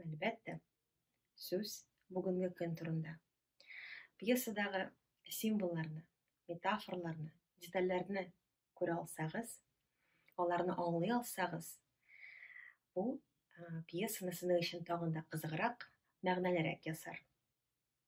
Әлбәттә, сүз бүгенге көн турында. Пьесадагы символларны, метафорларны, детальләрне күрә алсагыз, аларны аңлый алсагыз, бу пьесаны сезнең өчен тагын да кызыграк, мәгънәлерәк ясар.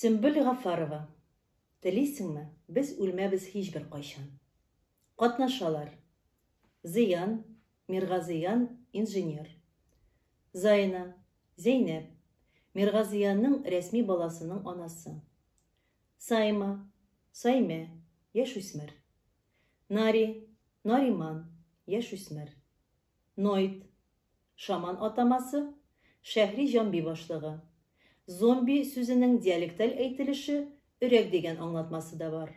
Сөмбел Гафарова, телисеңме, без үлмәбез һичбер кайчан. Катнашалар. Зыян, Миргазыян, инженер. Зайна, Зәйнәп, Миргазыянның рәсми баласының анасы. Сайма, Саймә, яшүсмер. Нари, Нариман, яшүсмер. Ноид. Шаман атамасы, Шәһри җомби башлыгы. Зомби сүзенең диалекталь әйтелеше өрәк дигән аңлатмасы да бар.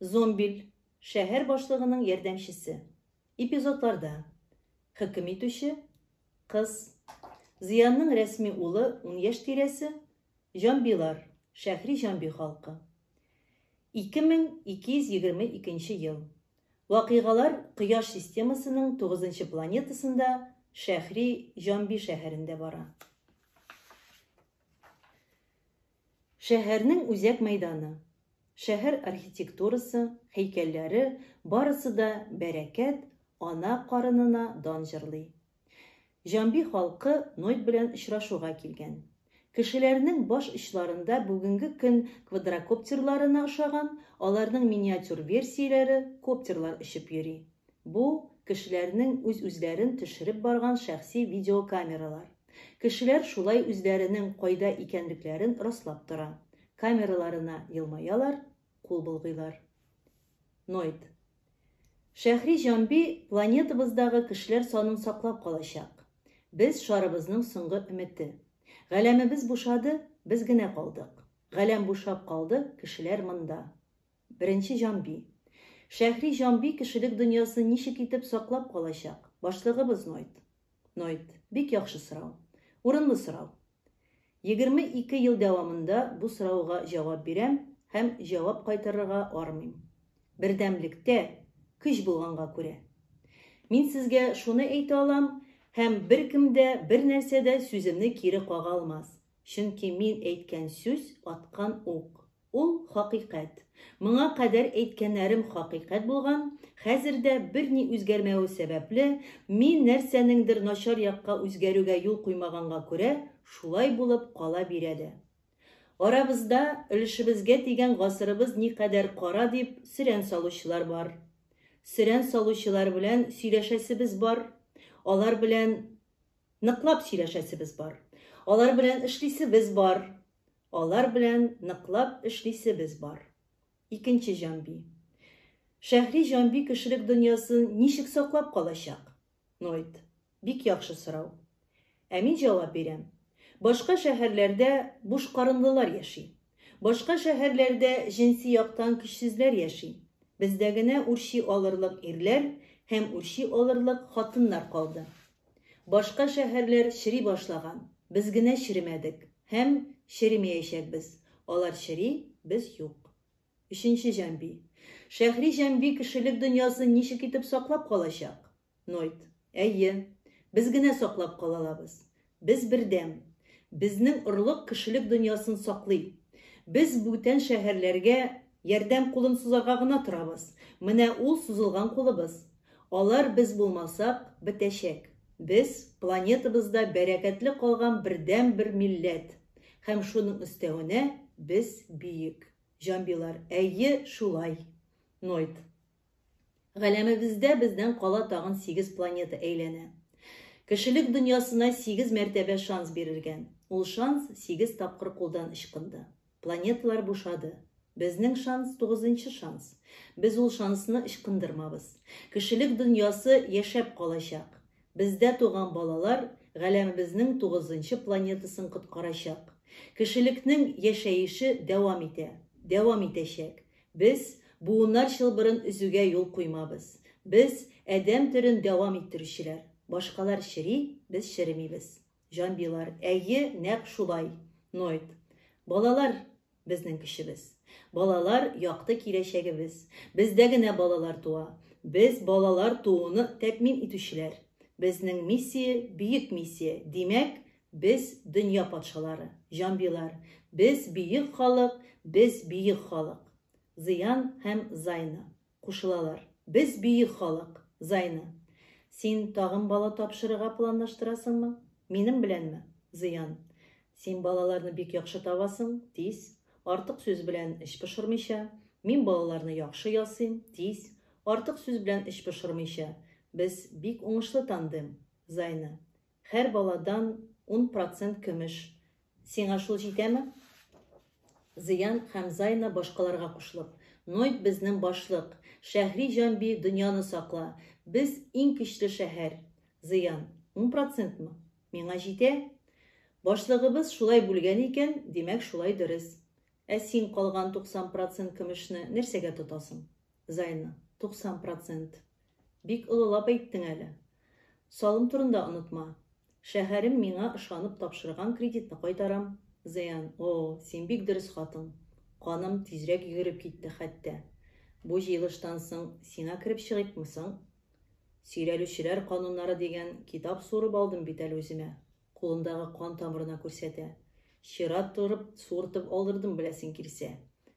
Зомбиль, шәһәр башлыгының ярдәмчесе. Эпизодларда. Хөкем итүче, кыз. Зыянның рәсми улы, ун яшь тирәсе. Җомбилар, шәһри җомби халкы. 2222 ел. Вакыйгалар Кояш системасының тугызынчы планетасында, Шәхри Җамби шәһәрендә бара. Шәһәрнең үзәк мәйданы, шәһәр архитектурасы, һәйкәлләре барысы да бәрәкәт, ана карынына дан җырлый. Җамби халкы Нойд белән очрашуга килгән. Кешеләрнең баш очларында бүгенге көн квадрокоптерларына ошаган, аларның миниатюр версияләре, коптерлар очып йөри. Бу, кешеләрнең үз-үзләрен төшереп барган шәхси видеокамералар. Кешеләр шулай үзләренең кайда икәнлекләрен раслап тора. Камераларына елмаялар, кул болгыйлар. Ноет. Шәһри Җамби планетабыздагы кешеләр санын саклап калачак. Без, шарыбызның соңгы өмете. Галәмебез бушады, без генә калдык. Галәм бушап калды, кешеләр монда. Беренче Җамби. Шәһри Җамби кешелек дөньясын ничек итеп саклап калачак? Башлыгыбыз Ноет. Ноет. Бик яхшы сорау. Урынлы сорау. 22 ел дәвамында бу сорауга җавап бирәм һәм җавап кайтарырга армыйм. Бердәмлектә, көч булганга күрә. Мин сезгә шуны әйтә алам, һәм беркем дә, бернәрсә дә сүземне кире кага алмас, чөнки мин әйткән сүз аткан ук. Ул, хакыйкать. Моңа кадәр әйткәннәрем хакыйкать булган, хәзер дә, берни үзгәрмәве сәбәпле, мин нәрсәнеңдер начар якка үзгәрүгә юл куймаганга күрә, шулай булып кала бирә дә. Арабызда, өлешебезгә тигән гасырыбыз никадәр кара дип, сөрән салучылар бар. Сөрән салучылар белән сөйләшәсебез бар, алар белән ныклап сөйләшәсебез бар. Алар белән эшлисебез бар. Алар белән ныклап эшлисебез бар. Икенче җанби. Шәһри җанби кешелек дөньясын ничек саклап калачак? Нойт. Бик яхшы сорау. Ә мин җавап бирәм. Башка шәһәрләрдә бушкарынлылар яши. Башка шәһәрләрдә җенси яктан көчсезләр яши. Бездә генә үрчи алырлык ирләр һәм үрчи алырлык хатыннар калды. Башка шәһәрләр чери башлаган, без генә черемәдек һәм черемиячәкбез. Алар чери, без юк. Өченче җанби. Шәһри җанби кешелек дөньясын ничек итеп саклап калачак? Нойт. Әйе. Без генә саклап калалабыз. Без бердәм. Безнең орлык кешелек дөньясын саклый. Без бүтән шәһәрләргә ярдәм кулын сузарга гына торабыз. Менә ул сузылган кулыбыз. Алар без булмасак, бетәчәк. Без, планетабызда бәрәкәтле калган бердәнбер милләт. Һәм шуның өстәвенә, без биек. Җанбилар, әйе, шулай. Нойд. Галәмебездә бездән кала тагын сигез планета әйләнә. Кешелек дөньясына сигез мәртәбә шанс бирелгән. Ул шанс сигез тапкыр кулдан ычкынды. Планеталар бушады. Безнең шанс, тугызынчы шанс. Без ул шансны ычкындырмабыз. Кешелек дөньясы яшәп калачак. Бездә туган балалар галәмебезнең тугызынчы планетасын коткарачак. Кешелекнең яшәеше дәвам итә, дәвам итәчәк. Без буыннар чылбырын өзүгә юл куймабыз. Без, адәм төрен дәвам иттерүчеләр. Башкалар чери, без черемибез. Җанбийлар, әйе, нәкъ шулай. Ноет. Балалар, безнең көчебез. Балалар, якты киләчәгебез. Бездә генә балалар туа. Без, балалар тууны тәэмин итүчеләр. Безнең миссия, бөек миссия. Димәк, без, дөнья патшалары. Җанбийлар, без, бөек халык, без, бөек халык. Зыян һәм Зайна. Кушылалар. Без бөек халык. Зайны. Син тагын бала тапшырырга планлаштырасыңмы? Минем беләнме? Зыян. Син балаларны бик яхшы табасың, тиз. Артык сүз белән эч пошырмыйча. Мин балаларны яхшы ясыйм, тиз. Артык сүз белән эч пошырмыйча. Без бик уңышлы тандем. Зайны. Хәр баладан ун процент көмеш. Сиңа шул җитәме? Зыян Хәмзайна башкаларга кушылып. Ноет безнен башлык. Шәһри җан би, дөньяны сакла. Без иң көчле шәһәр. Зыян. Ун процентмы? Миңа җитә. Башлыгыбыз шулай бүлгән икән, димәк шулай дөрес. Ә син калган туксан процент көмешне нәрсәгә тотасың? Зайна. Туксан процент. Бик олылап әйттең әле. Салым турында онытма. Шәһәрем миңа ышанып тапшырган кредитны кайтарам. Зыян, о, син бик дөрес хатын. Каным тизрәк йөгереп китте хәтта. Бу җыелыштан соң сиңа кереп чыгыйкмы соң? Сөйрәлүчеләр кануннары дигән китап суырып алдым бит әле үземә. Кулындагы кан тамырына күрсәтә. Чират торып суыртып алдырдым, беләсең килсә.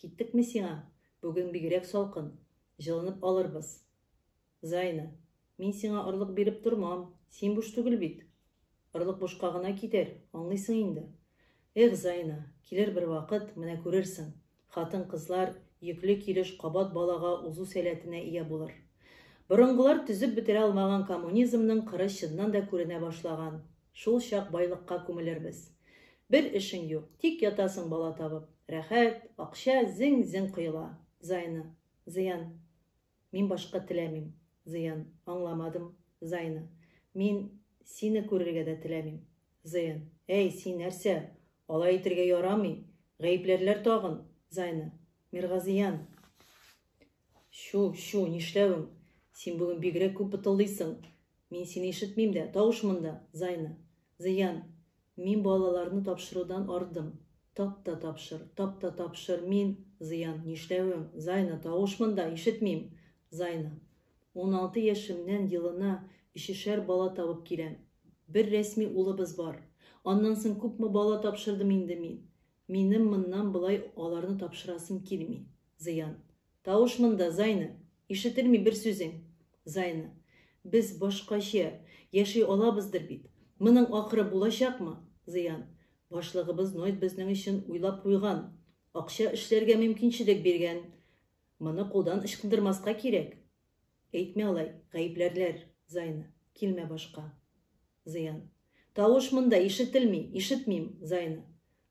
Киттекме сиңа? Бүген бигрәк салкын. Җылынып алырбыз. Зайна. Мин сиңа орлык биреп тормам. Син буш түгел бит. Орлык бушка гына китәр, аңлыйсың инде. Эх, Зайна, килер бер вакыт, менә күрерсең, хатын-кызлар йөкле килеш кабат балага узу сәләтенә ия булыр. Борынгылар төзеп бетерә алмаган коммунизмның кыры чыннан да күренә башлаган. Шулчак байлыкка күмелербез. Бер эшең юк, тик ятасың бала табып. Рәхәт, акча зең-зең коела. Зайны. Зыян. Мин башка теләмим. Зыян. Аңламадым. Зайны. Мин сине күрергә дә теләмим. Зыян. Әй, син нәрсә? Алай итергә ярамый. Гаепләрләр тагын. Зайны. Миргазыян! Чү, чү, нишләвең? Син бүген бигрәк күп бытылдыйсың. Мин сине ишетмим дә, тавыш монда, Зайна. Зыян. Мин балаларны тапшырудан ардым. Тап та тапшыр, тап та тапшыр, мин. Зыян. Нишләвең? Зайна, тавыш монда, ишетмим. Зайна. Уналты яшемнән елына өчешәр бала табып киләм. Бер рәсми улыбыз бар. Аннан соң күпме бала тапшырдым инде мин. Минем моннан болай аларны тапшырасым килми. Зыян. Тавыш монда, Зайны! Ишетелми бер сүзең! Зайны. Без башкача яши алабыздыр бит. Моның ахыры булачакмы? Зыян. Башлыгыбыз Нойд безнең өчен уйлап куйган. Акча эшләргә мөмкинчелек биргән. Моны кулдан ычкындырмаска кирәк. Әйтмә алай, гаепләрләр, Зайна, килмә башка. Зыян. Тавыш монда ишетелми, ишетмим, Зайна.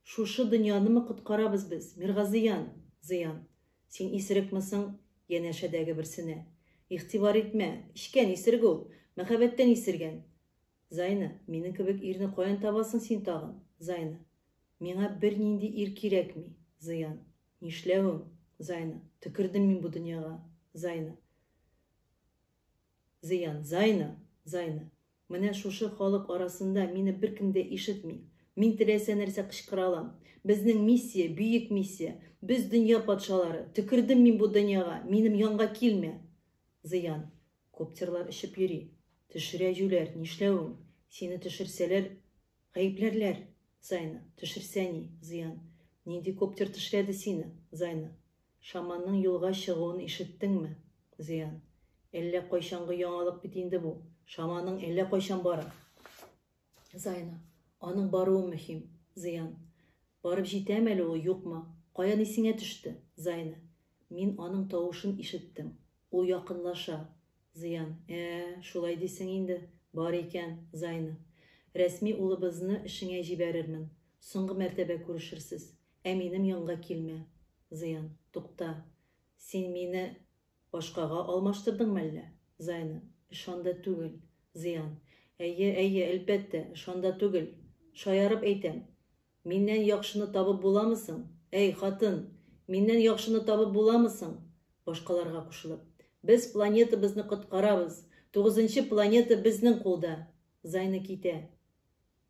Шушы дөньянымы коткарабыз без, Миргазыян! Зыян. Син исерекме соң? Янәшәдәге берсенә. Игътибар итмә, эчкән исерек ул, мәхәббәттән исергән. Зайна, минем кебек ирне каян табасың син тагын, Зайна. Миңа бернинди ир кирәкми, Зыян. Нишләвең, Зайна? Төкердем мин бу дөньяга, Зайна. Зыян, Зайна, Зайна. Менә шушы халык арасында мине беркем дә ишетми. Мин теләсә нәрсә кычкыра алам. Безнең миссия, бөек миссия. Без дөнья патшалары. Төкердем мин бу дөньяга. Минем янга килмә. Зыян. Коптерлар очып йөри. Төшерә җүләр. Нишләвең? Сине төшерсәләр, Гаепләрләр! Зайна, Төшерсә ни, зыян? Нинди коптер тешләде сине? Зайна, Шаманның юлга чыгуын ишеттеңме? Зыян, Әллә кайчангы яңалык бит инде бу. Шаманың әллә кайчан бара. Зайна, Аның баруы мөһим. Зыян, Барып җитәме әле ул, юкмы? Каян исеңә төште? Зайна, Мин аның тавышын ишеттем. Ул якынлаша. Зыян. Ә-ә, шулай дисең инде. Бар икән, Зайнов. Рәсми улыбызны эшеңә җибәрермен. Соңгы мәртәбә күрешерсез. Ә минем янга килмә. Зыян. Тукта. Син мине башкага алмаштырдыңмы әллә? Зайнов. Ышанда түгел. Зыян. Әйе, әйе, әлбәттә, ышанда түгел. Шаярып әйтәм. Миннән яхшыны табып буламы соң? Әй, хатын! Миннән яхшыны табып буламы соң? Башкаларга кушылып. Без планетабызны коткарабыз! Тугызынчы планета безнең кулда! Зайны китә.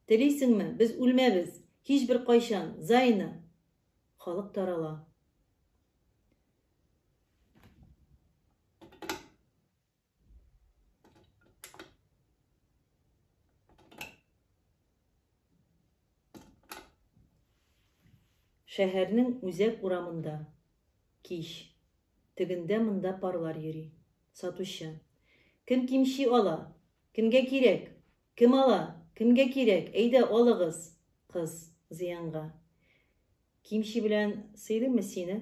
Телисеңме, без үлмәбез! Һичбер кайчан! Зайны! Халык тарала. Шәһәрнең үзәк урамында. Кич. Тегендә монда парлар йөри. Сатучы. Кем кимчи ала? Кемгә кирәк? Кем ала? Кемгә кирәк? Әйдә, алыгыз. Кыз. Зыянга. Кимчи белән сыйлыймы сине?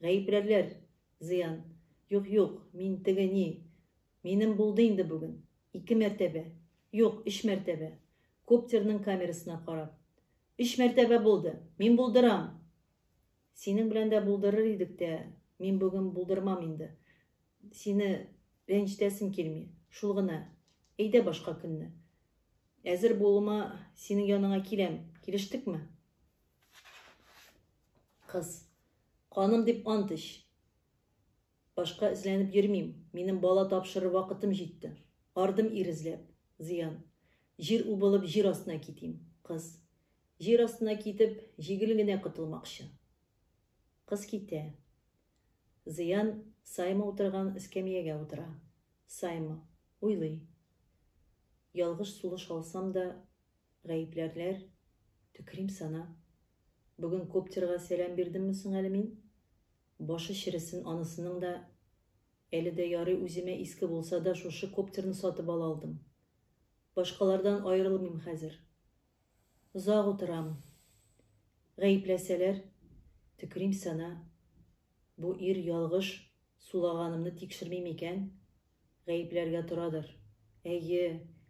Гаепләрләр, зыян. Юк, юк, мин теге ни. Минем булды инде бүген. Ике мәртәбә. Юк, өч мәртәбә. Коптерның камерасына карап. Өч мәртәбә булды. Мин булдырам! Синең белән дә булдырыр идек тә, мин бүген булдырмам инде. Сине рәнҗетәсем килми. Шул гына. Әйдә башка көнне. Әзер булуыма синең яныңа киләм. Килештекме? Кыз. Каным дип ант ич. Башка эзләнеп йөрмим. Минем бала тапшырыр вакытым җитте. Ардым ир эзләп. Зыян. Җир убылып, җир астына китим. Кыз. Җир астына китеп, җигел генә котылмакчы. Кыз китә. Зыян Сайма утырган эскәмиягә утыра. Сайма уйлый. Ялгыш сулыш алсам да, Гаепләрләр, төкерим сана. Бүген коптерга сәлам бирдемме соң әле мин? Башы чересен анысының да. Әле дә ярый үземә иске булса да шушы коптерны сатып ала алдым. Башкалардан аерылмыйм хәзер. Озак утырам. Гаепләсәләр, төкерим сана. Бу ир ялгыш сулаганымны тикшерми микән? Гаепләргә торадыр. Әйе,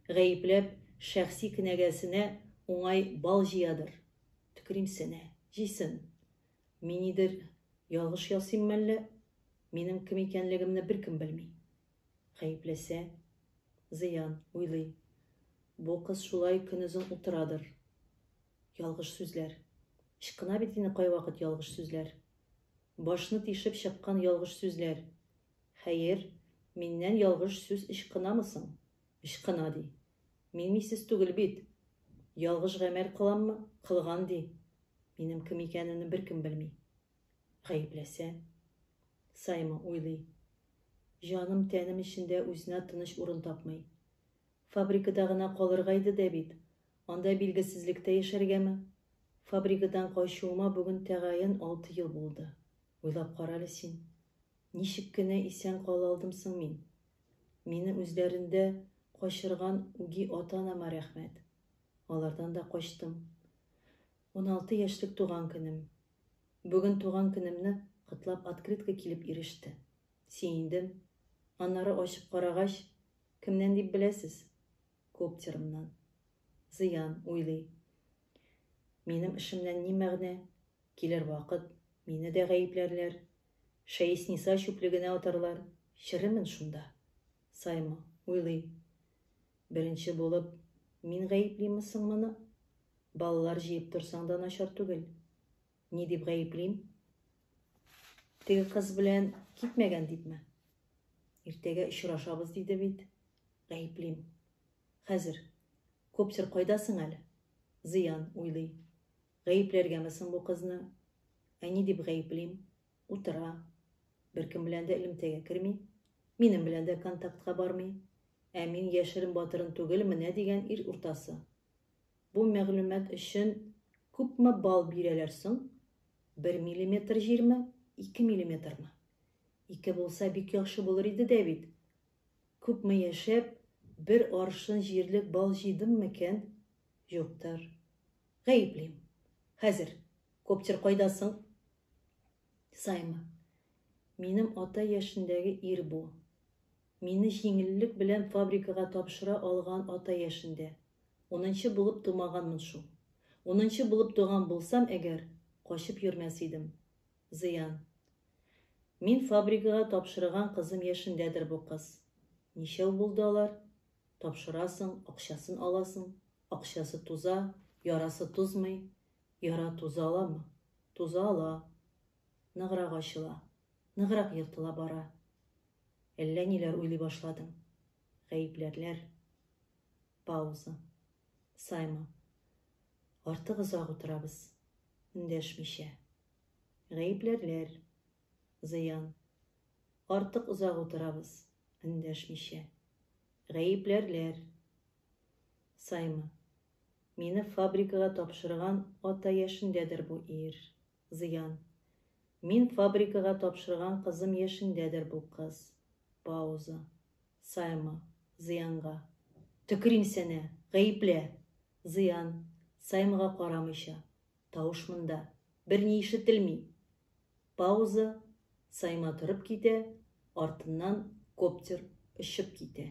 гаепләп, шәхси кенәгәсенә уңай бал җыядыр. Төкеримсенә. Җыйсын. Мин нидер ялгыш ясыйм мәллә? Минем кем икәнлегемне беркем белми. Гаепләсә, зыян, уйлый. Бу кыз шулай көнозын утырадыр. Ялгыш сүзләр. Ычкына бит инде кайвакыт ялгыш сүзләр. Башны тишеп чыккан ялгыш сүзләр. Хәер, миннән ялгыш сүз ычкынамы соң? Ычкына, ди. Мин мисс түгел бит. Ялгыш гамәл кыламмы? Кылган, ди. Минем кем икәнемне беркем белми. Гаепләсә? Саймы уйлый. Җаным-тәнем эчендә үзенә тыныч урын тапмый. Фабрикада гына калырга иде дә бит, анда билгесезлектә яшәргәме? Фабрикадан качуыма бүген тәгаен алты ел булды. Уйлап карале син. Ничек кенә исән кала алдым соң мин? Мине үзләрендә качырган үги ата-анама рәхмәт. Алардан да качтым. Уналты яшьлек туган көнем. Бүген туган көнемне котлап открытка килеп иреште. Сөендем. Аннары ачып карагач, кемнән дип беләсез? Коптерымнан. Зыян, уйлый. Минем эшемнән ни мәгънә? Килер вакыт, мине дә гаепләрләр. Шәесниса чүплегенә атарлар, черемен шунда. Саймы, уйлый. Беренче булып, мин гаеплиме соң моны? Балалар җыеп торсаң да начар түгел. Ни дип гаеплим? Теге кыз белән китмәгән дипме? Иртәгә очрашабыз диде бит. Гаеплим. Хәзер. Коптер кайда соң әле? Зыян, уйлый. Гаепләргәме соң бу кызны? Ә ни дип гаеплим? Утыра. Беркем белән дә элемтәгә керми. Минем белән дә контактка бармый. Ә мин яшерен батырын түгел менә дигән ир уртасы. Бу мәгълүмат өчен күпме балл бирәләр соң? Бер миллиметр җирме, ике миллиметрмы? Ике булса бик яхшы булыр иде дә бит, Күпме яшәп, бер аршын җирлек бал җыйдым микән? Юктыр. Гаеплим. Хәзер, коптер кайда соң? Саймы. Минем ата яшендәге ир бу. Мине җиңеллек белән фабрикага тапшыра алган ата яшендә. Унынчы булып тумаганмын шул. Унынчы булып туган булсам әгәр, качып йөрмәс идем. Зыян. Мин фабрикага тапшырыган кызым яшендәдер бу кыз. Ничәү булды алар? Тапшырасың, акчасын аласың, акчасы туза, ярасы тузмый, яра туза аламы? Туза ала. Ныграк ачыла, ныграк ертыла бара. Әллә ниләр уйлый башладым. Гаепләрләр. Пауза. Саймон. Артык озак утырабыз. Эндәшмичә. Гаепләрләр. Зыян. Артык озак утырабыз, эндәшмичә. Гаепләрләр. Саймы. Мине фабрикага тапшырган ата яшендәдер бу ир. Зыян. Мин фабрикага тапшырган кызым яшендәдер бу кыз. Пауза. Саймы. Зыянга. Төкерим сенә! Гаеплә! Зыян, Саймыга карамыйча. Тавыш монда. Берни ишетелми. Пауза, Сайма торып китә, артыннан коптер очып китә.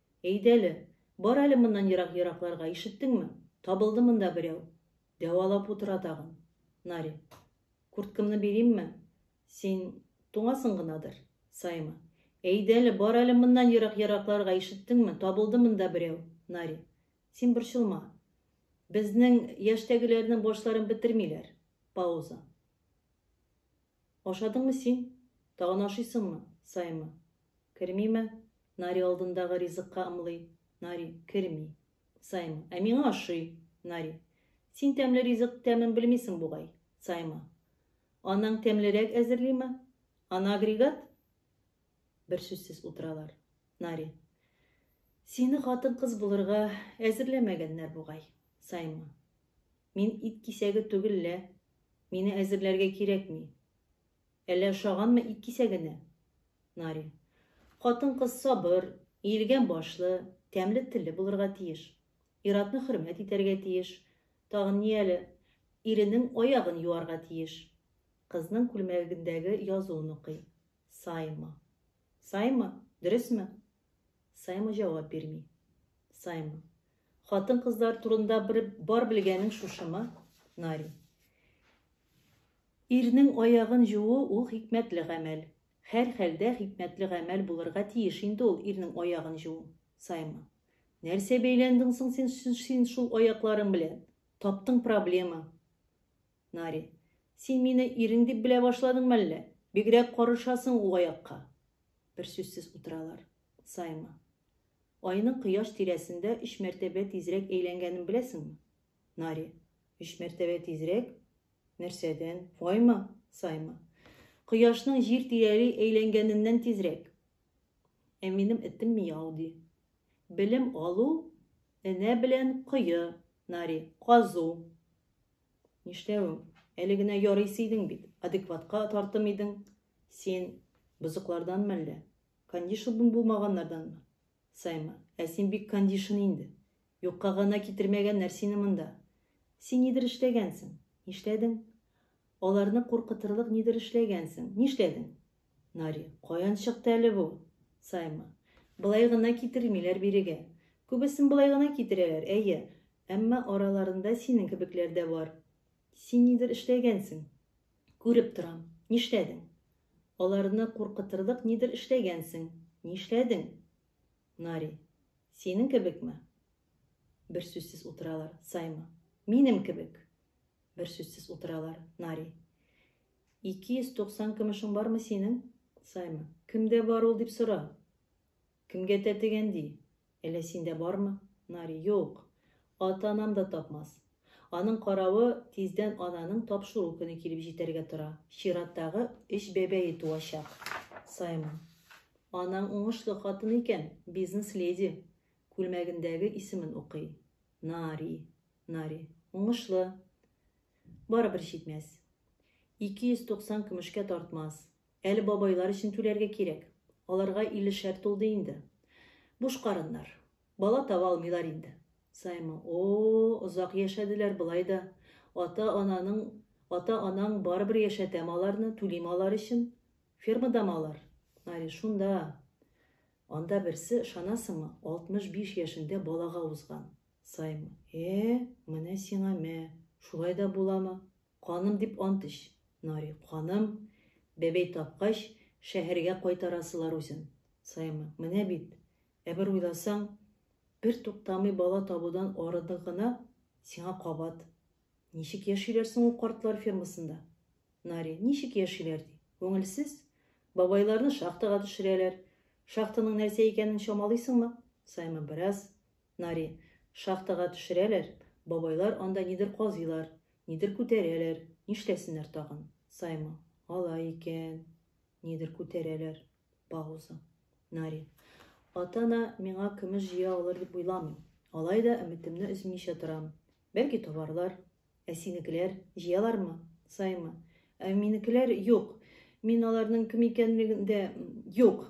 Әйдә әле, бар әле моннан ерак-еракларга, ишеттеңме? Табылды монда берәү. Дәвалап утыра тагын. Наря. Курткамны биримме? Син туңасың гынадыр. Саима. Әйдә әле, бар әле моннан ерак-еракларга, ишеттеңме? Табылды монда берәү. Наря. Син борчылма. Безнең яшьтәгеләрнең башларын бетермиләр. Пауза. Ашадыңмы син? Тагын ашыйсыңмы? Саима. Кермиме? Нари алдындагы ризыкка ымлый. Нари, керми. Саима, ә миңа ошый. Нари, син тәмле ризык тәмен белмисең бугай. Саима, анаң тәмлерәк әзерлиме? Ана агрегат? Бер сүзсез утыралар. Нари, сине хатын-кыз булырга әзерләмәгәннәр бугай. Саима, мин ит кисәге түгел лә, мине әзерләргә кирәкми. Әллә ошаганмы ит кисәгенә? Наря. Хатын-кыз сабыр, иелгән башлы, тәмле телле булырга тиеш. Ир-атны хөрмәт итәргә тиеш. Тагын ни әле? Иренең аягын юарга тиеш. Кызның күлмәгендәге язуын укый. Саема. Саймы, дөресме? Саймы җавап бирми. Саймы. Хатын-кызлар турында бер бар белгәнең шушымы? Нари. Ирнең аягын жуу ул хикмәтле гамәл. Һәр хәлдә хикмәтле гамәл булырга тиеш инде ул ирнең аягын жуу. Саймы. Нәрсә бәйләндең соң син, син шул аякларың белән? Таптың проблема. Нари. Син мине ирең дип белә башладыңмы әллә? Бигрәк карышасың ул аякка. Бер сүзсез утыралар. Сайма. Айның кояш тирәсендә өч мәртәбә тизрәк әйләнгәнен беләсеңме? Нари. Өч мәртәбә тизрәк? Нәрсәдән? Файма? Сайма. Кояшның җир тирәли әйләнгәненнән тизрәк. Ә минем этем мияу ди. Белем алу энә белән кое, Нари, казу. Нишләвең? Әле генә ярыйсы идең бит. Адекватка тартым идең. Син бозыклардан мәллә? Кондишн булмаганнардан мы? Саймы, ә син бик кондишн инде. Юкка гына китермәгәннәр сине монда. Син нидер эшләгәнсең. Нишләдең? Аларны куркытырлык нидер эшләгәнсең. Нишләдең? Нари. Каян чыкты әле бу? Саймы. Болай гына китермиләр бирегә. Күбесен болай гына китерәләр, әйе. Әмма араларында синең кебекләр дә бар. Син нидер эшләгәнсең. Күреп торам. Нишләдең? Аларны куркытырлык нидер эшләгәнсең. Нишләдең? Нари. Синең кебекме? Бер сүзсез утыралар. Саймы. Минем кебек. Бер сүзсез утыралар. Нари. 290 көмешең бармы синең? Саймы. Кемдә бар ул дип сора. Кемгә тәтегән ди. Әллә синдә бармы? Нари. Юк. Ата-анам да тапмас. Аның каравы, тиздән ананың тапшыру көне килеп җитәргә тора. Чираттагы өч бәбәе туачак. Саймы. Анаң уңышлы хатын икән, бизнес-леди. Күлмәгендәге исемен укый. Нари. Нари. Уңышлы. Барыбер җитмәс. 290 көмешкә тартмас. Әле бабайлар өчен түләргә кирәк. Аларга иллешәр тулды инде. Буш карыннар. Бала таба алмыйлар инде. Саймы, О-о, озак яшәделәр болай да. Ата-ананың, ата-анаң барыбер яшәтәме аларны, түлиме алар өчен? Фермадамы алар? Мари, Шунда. Анда берсе, ышанасыңмы, 65 яшендә балага узган. Сайм, Э, менә сиңа мә, шулай да буламы? Каным дип ант эч. Нари, Каным? Бәбәй тапкач, шәһәргә кайтарасылар үзен. Сайм, Менә бит. Ә бер уйласаң, бер туктамый бала табудан арыдың гына, сиңа кабат. Ничек яшиләр соң ул картлар фермасында? Нари, Ничек яшиләр ди? Күңелсез? Бабайларны шахтага төшерәләр. Шахтаның нәрсә икәнен чамалыйсыңмы? Сайм, Бераз. Нари. Шахтага төшерәләр, бабайлар анда нидер казыйлар, нидер күтәрәләр, нишләсеннәр тагын? Саймы. Алай икән, нидер күтәрәләр. Пауза. Нари. Ата-ана миңа көмеш җыя алыр дип уйламыйм. Алай да өметемне өзмичә торам. Бәлки табарлар. Ә синекеләр җыялармы? Саймы. Ә минекеләр юк. Мин аларның кем икәнлеген дә, юк!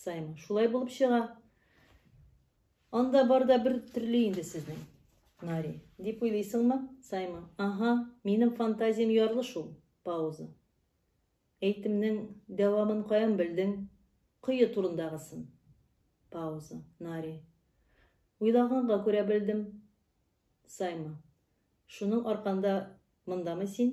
Сайма, шулай булып чыга. Анда барда бер төрле инде сезнең. Нари, дип уйлыйсыңмы? Сайма, ага, минем фантазиям ярлы шул. Пауза. Әйтемнең дәвамын каян белдең? Кое турындагысын. Пауза. Нари. Уйлаганга күрә белдем. Сайма. Шуның арканда мындамы син?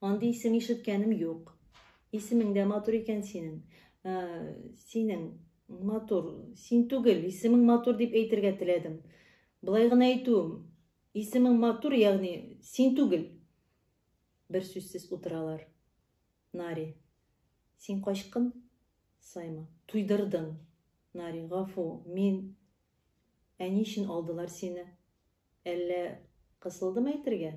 Андый исем ишеткәнем юк. Исемең дә матур икән синең. Ә, синең матур, син түгел, исемең матур дип әйтергә теләдем. Былай гына әйтүем, исемең матур, ягъни син түгел. Бер сүзсез утыралар. Нари. Син качкын? Сайма. Туйдырдың. Нари, гафу, мин әни өчен алдылар сине. Әллә кысылдым әйтергә?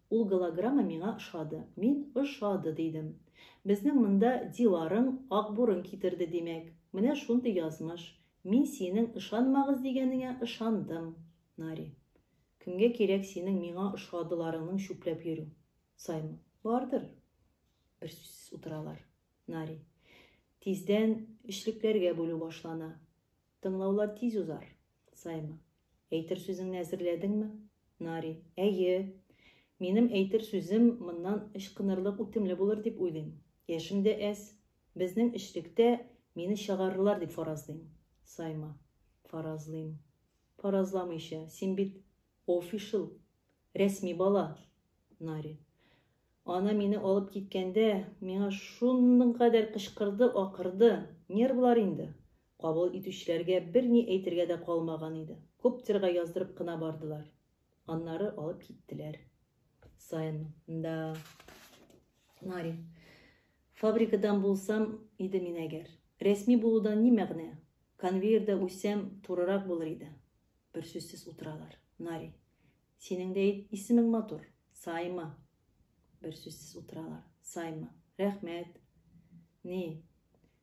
Ул голограмма миңа ошады. Мин ошады дидем. Безнең монда Диларың ак бурын китерде, димәк. Менә шундый язмыш. Мин синең ышанмагыз дигәнеңә ышандым, Нари. Кемгә кирәк синең миңа ошадыларыңның чүпләп йөрү? Саймон. Бардыр. Бер сүзсез утыралар. Нари. Тиздән эшлекләргә бүлү башлана. Тыңлаулар тиз узар. Сайма. Әйтер сүзеңне әзерләдеңме? Нари. Әйе. Минем әйтер сүзем моннан ычкынырлык үтемле булыр дип уйлыйм. Яшем дә әз. Безнең эчлектә мине чыгарырлар дип фаразлыйм. Сайма. Фаразлыйм. Фаразламыйча, син бит офишл, рәсми бала. Нари. Ана мине алып киткәндә, миңа шуның кадәр кычкырды, акырды. Нервлар инде. Кабул итүчеләргә берни әйтергә дә калмаган иде. Коптерга яздырып кына бардылар. Аннары алып киттеләр. Саен, да. Нари. Фабрикадан булсам иде мин әгәр. Рәсми булудан ни мәгънә? Конвейерда үсәм, турырак булыр иде. Бер сүзсез утыралар. Нари. Синең дә исемең матур. Сайма. Бер сүзсез утыралар. Сайма. Рәхмәт. Ни?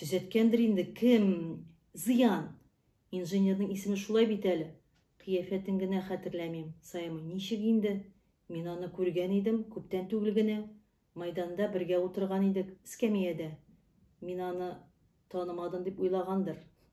Төзәткәндер инде кем? Зыян! Инженерның исеме шулай бит әле. Кыяфәтен генә хәтерләмим. Саймый, ничек инде? Мин аны күргән идем, күптән түгел генә. Майданда бергә утырган идек, эскәмиядә. Мин аны танымадым дип уйлагандыр.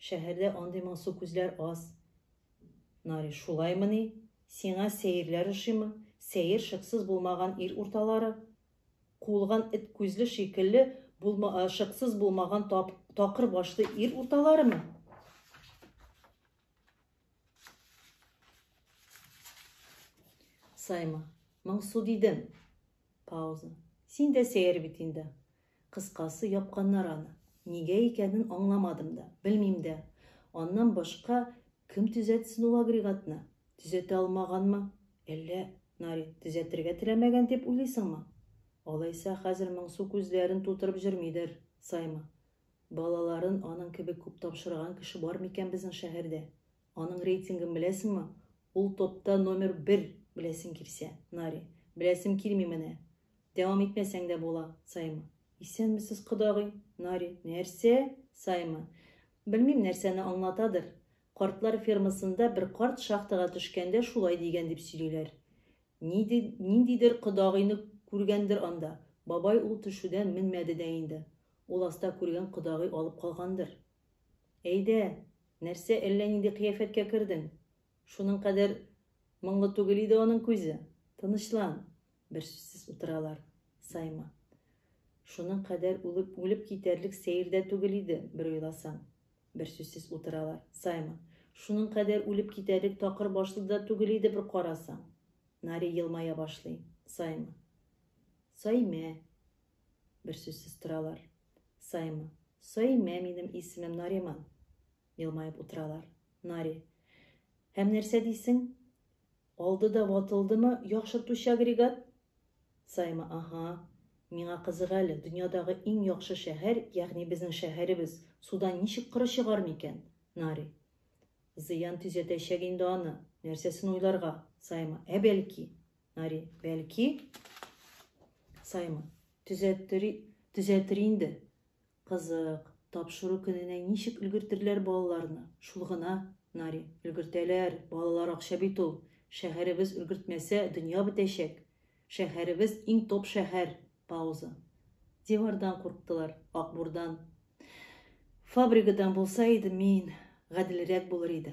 Шәһәрдә андый моңсу күзләр аз. Нари, шулаймыни? Сиңа сәерләр ошыймы? Сәер шыксыз булмаган ир урталары. Куылган эт күзле шикелле булма, а, шыксыз булмаган тап, такыр башлы ир урталарымы? Сайма, моңсу дидем. Пауза. Син дә сәер бит инде. Кыскасы, япканнар аны. Нигә икәнен аңламадым да, белмим дә. Аннан башка кем төзәтсен ул агрегатны? Төзәтә алмаганмы? Әллә, Нари, төзәтергә теләмәгән дип уйлыйсыңмы? Алайса, хәзер моңсу күзләрен тутырып җөрмидер, Саймы? Балаларын аның кебек күп тапшырган кеше бар микән безнең шәһәрдә? Аның рейтингын беләсеңме? Ул топта номер бер, беләсең килсә, Нари. Беләсем килми менә. Дәвам итмәсәң дә була, Саймы. Исәнмесез, кодагый. Нари. Нәрсә? Саймы. Белмим, нәрсәне аңлатадыр. Картлар фермасында бер карт шахтага төшкәндә шулай дигән дип сөйлиләр. Ниди, ниндидер кодагыйны күргәндер анда. Бабай ул төшүдән менмәде дә инде. Ул аста күргән кодагый алып калгандыр. Әйдә, нәрсә әллә нинди кыяфәткә кердең? Шуның кадәр моңлы түгел иде аның күзе. Тынычлан! Берсүзсез утыралар. Сайман. Шуның кадәр үлеп, үлеп китәрлек сәер дә түгел иде, бер уйласаң. Берсүзсез утыралар. Сайман. Шуның кадәр үлеп китәрлек такыр башлы да түгел иде, бер карасаң. Нари елмая башлый. Сайман. Саймә. Берсүзсез торалар. Саймы? Саймә, минем исемем Нариман. Елмаеп утыралар. Нари. Һәм нәрсә дисең? Алды да ватылдымы яхшыртучы агрегат? Саймы, аһа. Миңа кызык әле, дөньядагы иң яхшы шәһәр, ягъни безнең шәһәребез, судан ничек коры чыгар микән? Нари. Зыян төзәтәчәк инде аны. Нәрсәсен уйларга? Саймы, ә бәлки? Нари, бәлки, Саймон, төзәттер, төзәтер инде. Кызык, тапшыру көненә ничек өлгертерләр балаларны? Шул гына, Нари, өлгертәләр, балалар акча бит ул. Шәһәребез өлгертмәсә, дөнья бетәчәк. Шәһәребез иң топ шәһәр. Пауза. Дивардан курктылар, акбурдан. Фабрикадан булса иде мин, гаделрәк булыр иде.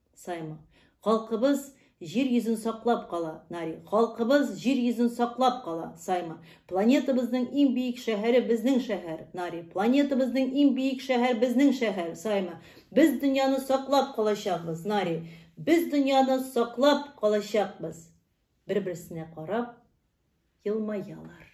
Саймы. Халкыбыз Җир йөзен саклап кала, Нари. Халкыбыз Җир йөзен саклап кала, Саймы. Планетабызның иң биек шәһәре безнең шәһәр, Нари. Планетабызның иң биек шәһәр безнең шәһәр, Саймы. Без дөньяны саклап калачакбыз, Нари. Без дөньяны саклап калачакбыз. Бер-берсенә карап елмаялар.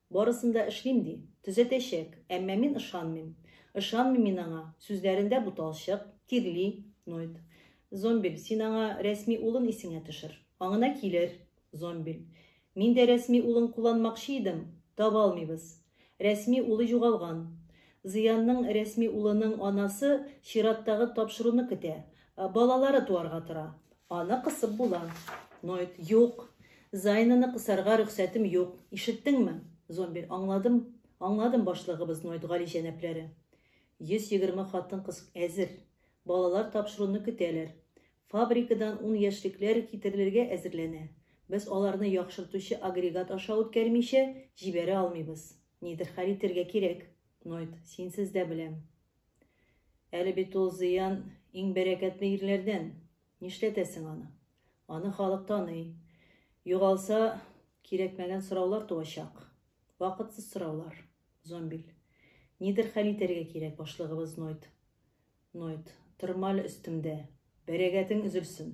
Барысын да эшлим, ди. Төзәтәчәк. Әмма мин ышанмыйм. Ышанмыйм мин аңа. Сүзләрендә буталчык, тирли, ноет. Зомбиль, син аңа рәсми улын исеңә төшер. Аңына килер. Зомбиль. Мин дә рәсми улын кулланмакчы идем. Таба алмыйбыз. Рәсми улы югалган. Зыянның рәсми улының анасы чираттагы тапшыруны көтә. Балалары туарга тора. Аны кысып була. Ноет, юк. Зайнаны кысарга рөхсәтем юк. Ишеттеңме? Зомбир, аңладым. Аңладым, башлыгыбыз Ноет гали җәнәпләре. 120 хатын кыз әзер. Балалар тапшыруны көтәләр. Фабрикадан ун яшьлекләр китерелергә әзерләнә. Без аларны яхшыртучы агрегат аша үткәрмичә җибәрә алмыйбыз. Нидер хәл итергә кирәк. Ноет, синсез дә беләм. Әле бит ул Зыян иң бәрәкәтле ирләрдән. Нишләтәсең аны? Аны халык таный. Югалса, кирәкмәгән сораулар туачак. Вакытсыз сораулар. Зомбиль. Нидер хәл итәргә кирәк, башлыгыбыз Нойт. Нойт. Тырмаль өстемдә. Бәрәгәтең өзелсен.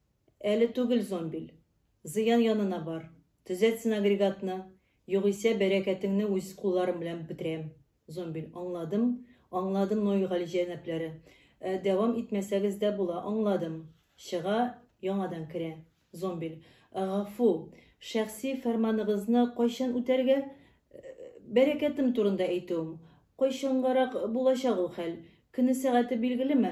Әле түгел, Зомбиль. Зыян янына бар, төзәтсен агрегатны, югыйсә бәрәкәтеңне үз кулларым белән бетерәм. Зомбиль. Аңладым, аңладым, но и галиҗәнапләре. Ә дәвам итмәсәгез дә була, аңладым. Чыга, яңадан керә. Зомбиль. Гафу, шәхси фәрманыгызны кайчан үтәргә? Бәрәкәтем турында әйтүем. Кайчангарак булачак ул хәл? Көне-сәгате билгелеме?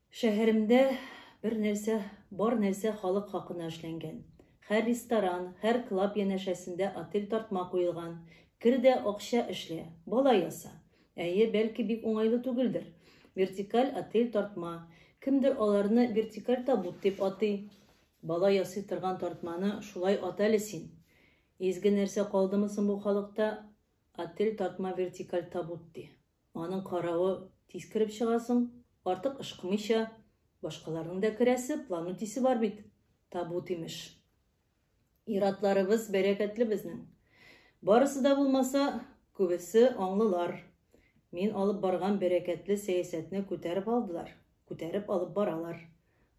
Шәһәремдә бер нәрсә, бар нәрсә халык хакына эшләнгән. Хәр ресторан, хәр клаб янәшәсендә отель тартма куелган. Кер дә акча эшлә, бала яса. Әйе, бәлки бик уңайлы түгелдер. Вертикаль отель тартма. Кемдер аларны вертикаль табут дип атый. Бала ясый торган тартманы шулай ат әле син. Изге нәрсә калдымы соң бу халыкта, отель тартма вертикаль табут ди. Аның каравы тиз кереп чыгасың, артык ышкымыйча, башкаларның да керәсе, план үтисе бар бит. Табут, имеш. Иратларыбыз бәрәкәтле безнең. Барысы да булмаса, күбесе аңлылар. Мин алып барган бәрәкәтле сәясәтне күтәреп алдылар, күтәреп алып баралар.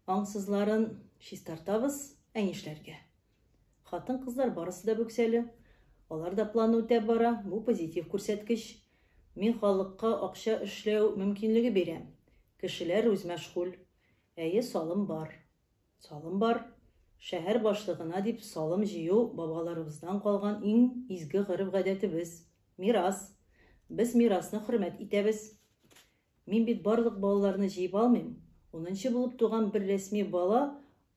Аңсызларын чистартабыз, ә нишләргә? Хатын-кызлар барысы да бүксәле. Алар да планны үтәп бара, бу позитив күрсәткеч. Мин халыкка акча эшләү мөмкинлеге бирәм. Кешеләр үзмәшгуль. Әйе, салым бар. Салым бар. Шәһәр башлыгына дип салым җыю бабаларыбыздан калган иң изге гореф-гадәтебез, мирас. Без мирасны хөрмәт итәбез. Мин бит барлык балаларны җыеп алмыйм. Унынчы булып туган бер рәсми бала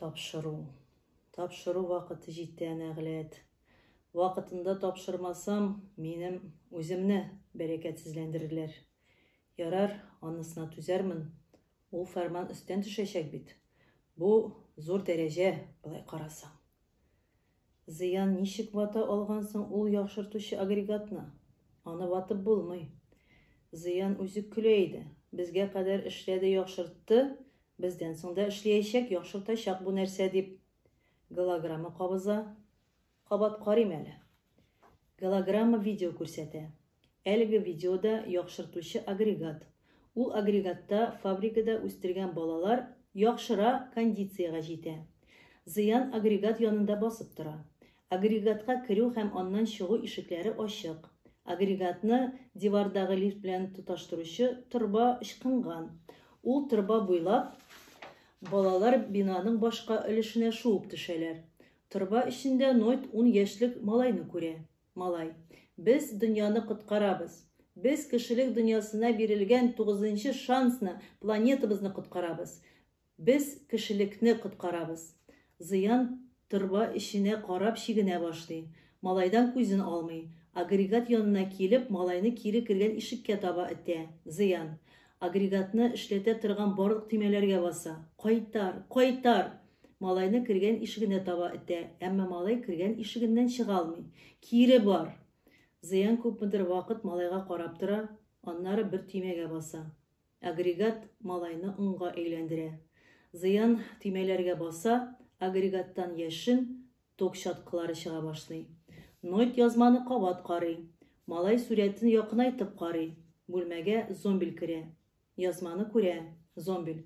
Тапшыру. Тапшыру вакыты җитә, нәгъләт. Вакытында тапшырмасам, минем үземне бәрәкәтсезләндерерләр. Ярар, анысына түзәрмен. Ул фәрман өстән төшәчәк бит. Бу зур дәрәҗә, болай карасаң. Зыян ничек вата алган соң ул яхшыртучы агрегатны? Аны ватып булмый. Зыян үзе көлә иде. Безгә кадәр эшләде, яхшыртты, бездән соң да эшләячәк, яхшыртачак бу нәрсә дип. Голограмма кабыза. Кабат карыйм әле. Голограмма видео күрсәтә. Әлеге видеода яхшыртучы агрегат. Ул агрегатта фабрикада үстергән балалар яхшыра кондициягә җитә. Зыян агрегат янында басып тора. Агрегатка керү һәм аннан чыгу ишекләре ачык. Агрегатны дивардагы лифт белән тоташтыручы торба ычкынган. Ул торба буйлап балалар бинаның башка өлешенә шуып төшәләр. Торба эчендә Нойт ун яшьлек малайны күрә. Малай. Без дөньяны коткарабыз. Без кешелек дөньясына бирелгән тугызынчы шансны, планетабызны коткарабыз. Без кешелекне коткарабыз. Зыян торба эченә карап чигенә башлый. Малайдан күзен алмый. Агрегат янына килеп, малайны кире кергән ишеккә таба этә. Зыян. Агрегатны эшләтә торган барлык төймәләргә баса. Кайтар! Кайтар! Малайны кергән ишегенә таба этә, әмма малай кергән ишегеннән чыга алмый. Кире бар! Зыян күпмедер вакыт малайга карап тора, аннары бер төймәгә баса. Агрегат малайны онга әйләндерә. Зыян төймәләргә баса, агрегаттан яшен, Ток чаткылары чыга башлый. Нойт язманы кабат карый. Малай сурәтен якынайтып карый. Бүлмәгә Зомбиль керә. Язманы күрә. Зомбиль.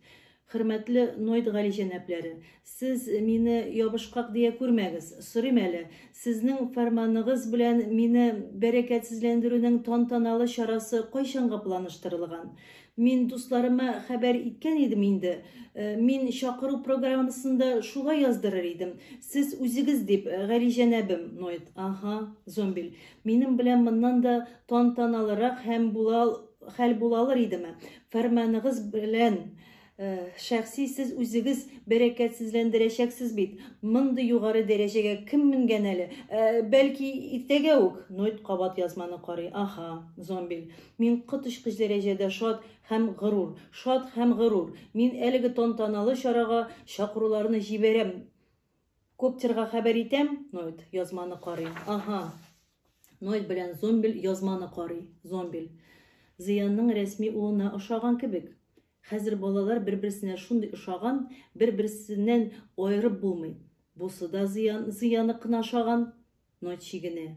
Хөрмәтле Нойт галиҗәнапләре, сез мине ябышкак дия күрмәгез. Сорыйм әле, сезнең фәрманыгыз белән мине бәрәкәтсезләндерүнең тантаналы чарасы кайчанга планыштырылган? Мин дусларыма хәбәр иткән идем инде. Э, мин чакыру программасында шулай яздырыр идем. Сез үзегез дип, э, Гали җәнәбем, Нойт. Ага, Зомбиль. Минем белән моннан да тантаналырак һәм була хәл була алыр идеме? Фәрманыгыз белән Э, шәхси сез үзегез бәрәкәтсезләндерәчәксез бит. Мондый югары дәрәҗәгә кем менгән әле? Э, бәлки иртәгә үк Нойт кабат язманы карый. Аха, Зомбиль. Мин коточкыч дәрәҗәдә шат һәм горур. Шат һәм горур. Мин әлеге тантаналы чарага чакыруларны җибәрәм. Коптерга хәбәр итәм, Нойд язманы карый. Аһа. Нойд белән Зомбель язманы карый. Зомбель. Зыянның рәсми улына ошаган кебек. Хәзер балалар бер-берсенә шундый ошаган, бер-берсеннән аерып булмый. Бусы да Зыян, Зыяны кына ошаган. Нойд чигенә.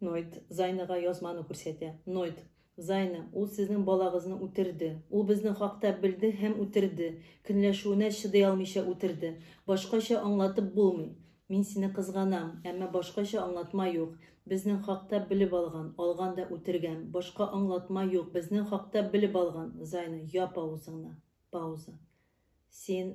Нойт, Зайныга язманы күрсәтә. Нойт, Зайны, ул сезнең балагызны үтерде. Ул безнең хакта белде һәм үтерде. Көнләшүенә чыдый алмыйча үтерде. Башкача аңлатып булмый. Мин сине кызганам, әмма башкача аңлатма юк. Безнең хакта белеп алган, алган да үтергән. Башка аңлатма юк, безнең хакта белеп алган. Зайны, яп авызыңны. Пауза. Син,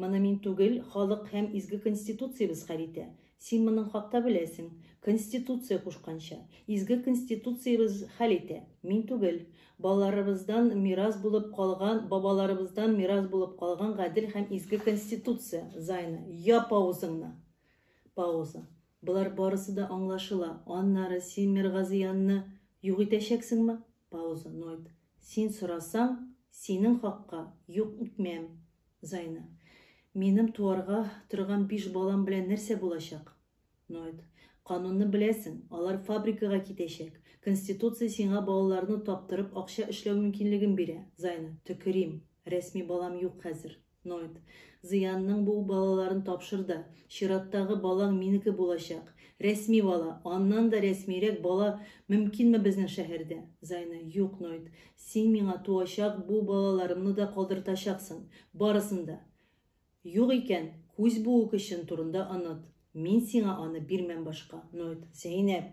Моны мин түгел, халык һәм изге Конституциябез хәл итә. Син моның хакта беләсең. Конституция кушканча. Изге Конституциябез хәл итә. Мин түгел. Балаларыбыздан мирас булып калган, бабаларыбыздан мирас булып калган гадел һәм изге Конституция. Зайна, яп авызыңны! Пауза. Болар барысы да аңлашыла. Аннары син Миргазиянны юк итәчәксеңме? Пауза, Ноет. Син сорасаң, синең хакка юк итмәм. Зайна. Минем туарга торган биш балам белән нәрсә булачак? Ноет. Канунны беләсең, алар фабрикага китәчәк. Конституция сиңа балаларны таптырып акча эшләү мөмкинлеген бирә. Зайна. Төкерим. Рәсми балам юк хәзер. Ноет. Зыянның бу балаларын тапшыр да, чираттагы балаң минеке булачак. Рәсми бала, аннан да рәсмирәк бала мөмкинме безнең шәһәрдә? Зайны. Юк, Ноет, син миңа туачак бу балаларымны да калдыртачаксың, барысын да. Юк икән, күз буу көчен турында оныт, мин сиңа аны бирмәм башка. Ноет. Зәйнәп.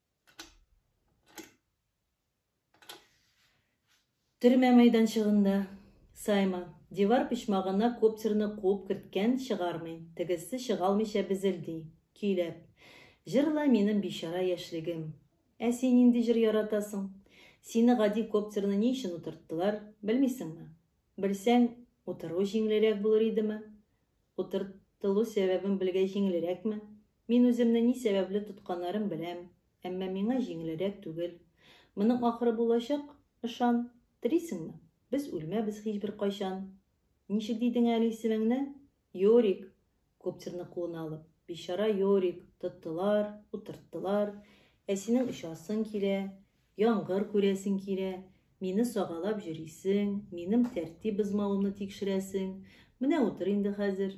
Төрмә мәйданчыгында Сайма дивар почмагына коптерны куып керткән чыгармый, тегесе чыгалмыйча безелди, көйләп. Җырла минем бичара яшьлегем. Ә син нинди җыр яратасың? Сине гади коптерны ни өчен утырттылар, белмисеңме? Белсәң, утыру җиңелрәк булыр идеме? Утыртылу сәбәбен белгәй җиңелрәкме? Мин үземне ни сәбәпле тотканнарын беләм, әмма миңа җиңелерәк түгел. Моның ахыры булачак, ышан. Телисеңме? Без үлмәбез һичбер кайчан. Ничек дидең әле исемеңне? Йорик! Коптерны кулына алып, бичара Йорик, тоттылар, утырттылар. Ә синең очасың килә, яңгыр күрәсең килә, мине сагалап йөрисең, минем тәртип бозмавымны тикшерәсең. Менә утыр инде хәзер.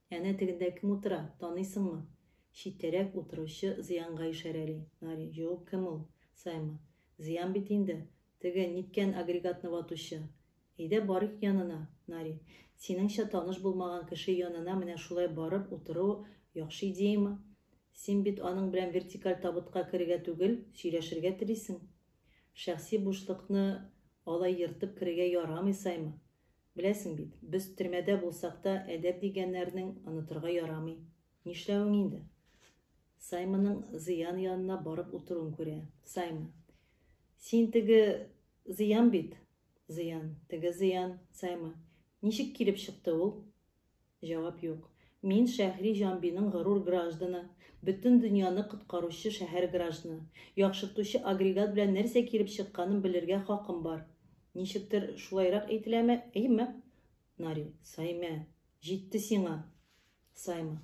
Әнә тегендә кем утыра, таныйсыңмы? Читтәрәк утыручы Зыянга ишарәли Нари. Юк, кем ул? Саймы? Зыян бит инде. Теге, ниткән агрегатны ватучы. Әйдә барыйк янына, Нари. Синеңчә, таныш булмаган кеше янына менә шулай барып утыру яхшы идеямы? Син бит аның белән вертикаль табытка керергә түгел, сөйләшергә телисең. Шәхси бушлыкны алай ертып керергә ярамый, Саймы. Беләсең бит, без төрмәдә булсак та, әдәп дигәннәрнең онытырга ярамый. Нишләвең инде? Сайманың Зыян янына барып утыруын күрә. Сайма. Син теге Зыян бит? Зыян. Теге Зыян. Сайма. Ничек килеп чыкты ул? Җавап юк. Мин Шәһри Җанбиның горур гражданы, бөтен дөньяны коткаручы шәһәр гражданы, яхшыртучы агрегат белән нәрсә килеп чыкканын белергә хакым бар. Ничектер шулайрак әйтеләме, әйеме? Нари. Саймә! Җитте сиңа! Саймы.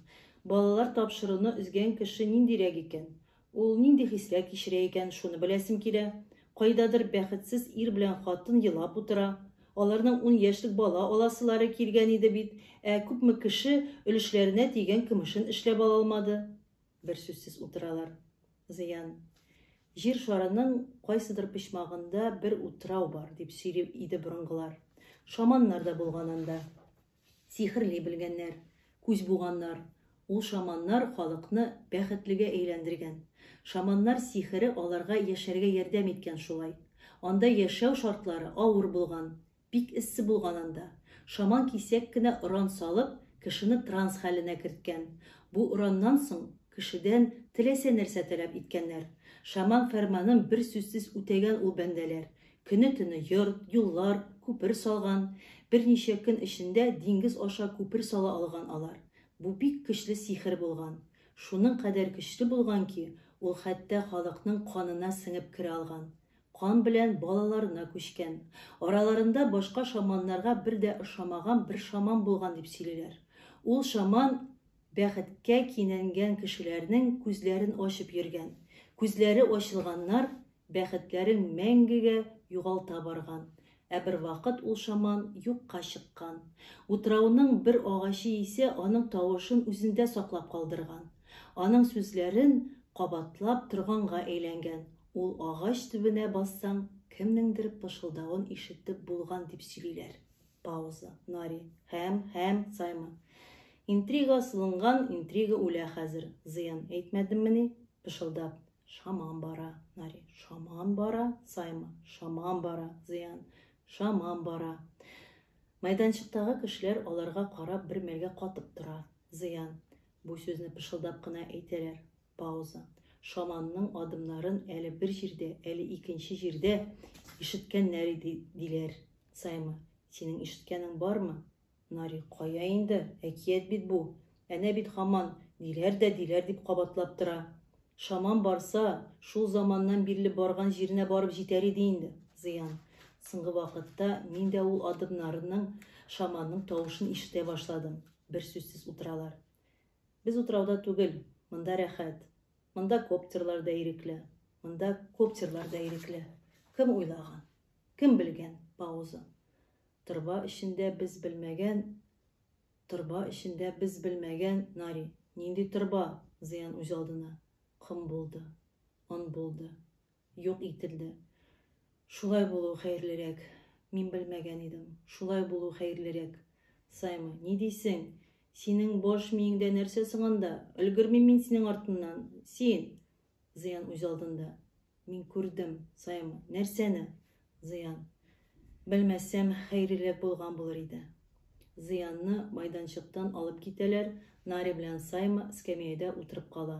Балалар тапшыруны өзгән кеше ниндирәк икән? Ул нинди хисләр кичерә икән, шуны беләсем килә. Кайдадыр бәхетсез ир белән хатын елап утыра. Аларның ун яшьлек бала аласылары килгән иде бит, ә күпме кеше өлешләренә тигән көмешен эшләп ала алмады. Берсүзсез утыралар. Зыян. Җир шарының кайсыдыр почмагында бер утрау бар, дип сөйли иде борынгылар. Шаманнар да булган анда. Сихерли белгәннәр, күз буганнар. Ул шаманнар халыкны бәхетлегә әйләндергән. Шаманнар сихере аларга яшәргә ярдәм иткән шулай. Анда яшәү шартлары авыр булган, бик эссе булган анда. Шаман кисәк кенә оран салып, кешене транс хәленә керткән. Бу ораннан соң кешедән теләсә нәрсә таләп иткәннәр. Шаман фәрманын бер сүзсез үтәгән ул бәндәләр. Көне-төне йорт, юллар, күпер салган, берничә көн эчендә диңгез аша күпер сала алган алар. Бу бик көчле сихер булган. Шуның кадәр көчле булган ки, ул хәтта халыкның канына сеңеп керә алган. Кан белән балаларына күчкән. Араларында башка шаманнарга бер дә ошамаган бер шаман булган дип сөйлиләр. Ул шаман Бәхеткә кинәнгән кешеләрнең күзләрен ачып йөргән, күзләре ачылганнар бәхетләрен мәңгегә югалта барган, ә бервакыт ул шаман юкка чыккан. Утрауның бер агачы исә аның тавышын үзендә саклап калдырган, аның сүзләрен кабатлап торганга әйләнгән, ул агач төбенә бассаң, кемнеңдер пышылдавын ишетеп булган дип сөйлиләр. Пауза. Нари. Һәм, һәм, Саймы. Интрига сылынган, интрига үлә хәзер. Зыян әйтмәдеммени? Пышылдап. Шаман бара. Нари. Шаман бара. Саймы. Шаман бара. Зыян. Шаман бара. Майданчыктагы кешеләр аларга карап бер мәлгә катып тора. Зыян. Бу сүзне пышылдап кына әйтәләр. Пауза. Шаманның адымнарын әле бер җирдә, әле икенче җирдә ишеткән Нәри ди, диләр. Саймы, синең ишеткәнең бармы? Нари, кая инде, әкият бит бу. Әнә бит һаман диләр дә диләр дип кабатлап тора. Шаман барса, шул заманнан бирле барган җиренә барып җитәр иде инде. Зыян. Соңгы вакытта мин дә ул адымнарның шаманның тавышын ишетә башладым. Бер сүзсез утыралар. Без утрауда түгел, монда рәхәт. Монда коптерлар да ирекле. Монда коптерлар да ирекле. Кем уйлаган? Кем белгән? Пауза. Торба эчендә без белмәгән, торба эчендә без белмәгән, Нари. Нинди торба? Зыян үз алдына. Ком булды. Он булды. юк ителде. Шулай булу хәерлерәк. Мин белмәгән идем. Шулай булу хәерлерәк. Саймы, ни дисең? Синең баш миеңдә нәрсә соң анда? Өлгермим мин синең артыннан. Син! Зыян үз алдында. Мин күрдем, Саймы. Нәрсәне? Зыян. Белмәсәм, хәерлерәк булган булыр иде. Зыянны майданчыктан алып китәләр, Нари белән Саймы скамеядә утырып кала.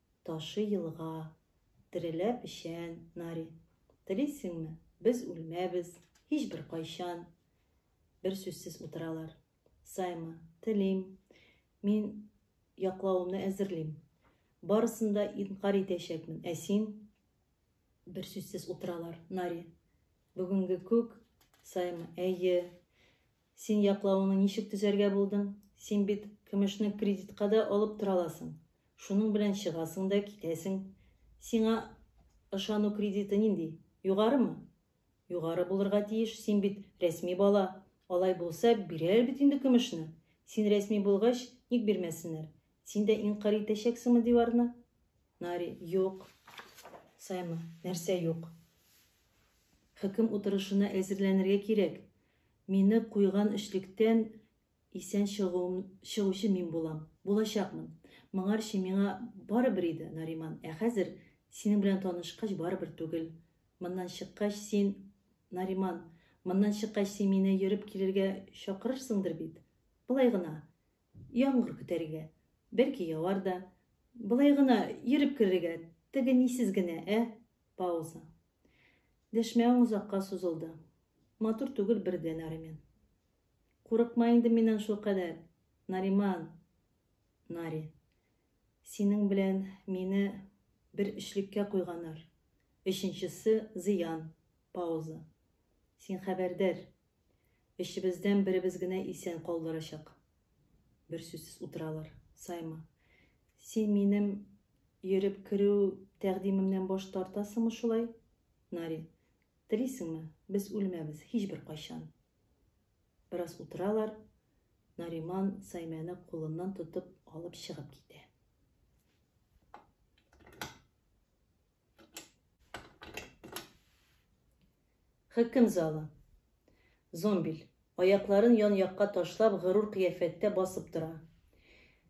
Ташы елга, терелә печән, нари. Телисеңме, без үлмәбез, һичбер кайчан! Бер сүзсез утыралар. Сайма, телим. Мин яклавымны әзерлим. Барысын да инкарь итәчәкмен, ә син? Бер сүзсез утыралар. Нари. Бүгенге күк, Сайма, әйе. Син яклавыңны ничек төзәргә булдың? Син бит көмешне кредитка да алып тора аласың. Шуның белән чыгасың да китәсең. Сиңа ышану кредиты нинди? Югарымы? Югары булырга тиеш, син бит рәсми бала. Алай булса, бирәләр бит инде көмешне. Син рәсми булгач, ник бирмәсеннәр? Син дә инкарь итәчәксеңме диварны? Нари, юк. Саймы, нәрсә юк? Хөкем утырышына әзерләнергә кирәк. Мине куйган өчлектән исән чыгуым, чыгучы мин булам, булачакмын. Моңарчы миңа барыбер иде, Нариман, ә хәзер, синең белән танышкач, барыбер түгел. Моннан чыккач, син, Нариман, моннан чыккач, син мине йөреп килергә чакырырсыңдыр бит? Болай гына, яңгыр көтәргә. Бәлки, явар да. Болай гына, йөреп керергә, теге нисез генә, ә? Пауза. Дәшмәвең озакка сузылды. Матур түгел бер дә, Наримен. Курыкма инде миннән шулкадәр, Нариман. Нари. Синең белән мине бер өчлеккә куйганнар. Өченчесе зыян. Пауза. Син хәбәрдар, Эчебездән беребез генә исән калдырачак. Бер сүзсез утыралар. Саймы. Син минем йөреп керү тәкъдимемнән баш тартасыңмы шулай? Нари. Телисеңме, без үлмәбез, һичбер кайчан. Бераз утыралар. Нариман Саймәне кулыннан тотып алып чыгып китә. Хөкем залы. Зомбиль, аякларын ян-якка ташлап, горур кыяфәттә басып тора.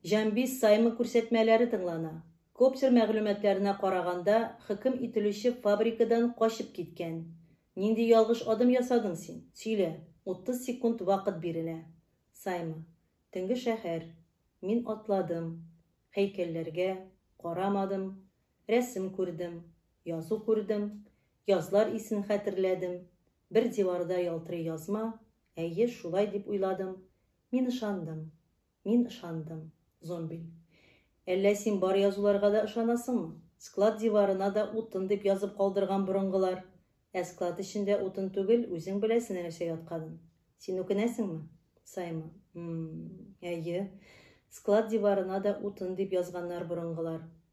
Җамбис Саймы күрсәтмәләре тыңлана. Коптер мәгълүматларына караганда, хөкем ителүче фабрикадан качып киткән. Нинди ялгыш адым ясадың син? Сөйлә. 30 секунд вакыт бирелә. Саймы. Төнге шәһәр. Мин атладым. Һәйкәлләргә карамадым. Рәсем күрдем, язу күрдем, язлар исен хәтерләдем, бер диварда ялтырый язма, әйе, шулай дип уйладым, мин ышандым, мин ышандым. Зомби. Әллә син бар язуларга да ышанасыңмы? Склад диварына да утын дип язып калдырган борынгылар. Ә склад эчендә утын түгел, үзең беләсең нәрсә ятканын. Син үкенәсеңме? Саймон. М-м, әйе. Склад диварына да утын дип язганнар борынгылар.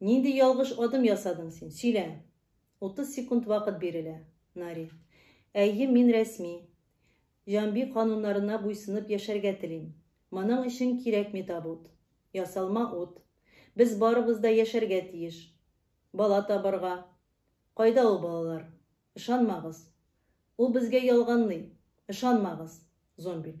Нинди ялгыш адым ясадың син? Сөйлә! Утыз секунд вакыт бирелә. Нари. Әйе, мин рәсми. Җанби кануннарына буйсынып яшәргә телим. Моның өчен кирәкми табут. Ясалма ут. Без барыбыз да яшәргә тиеш. Бала табарга. Кайда ул балалар? Ышанмагыз. Ул безгә ялганлый. Ышанмагыз. Зомбиль.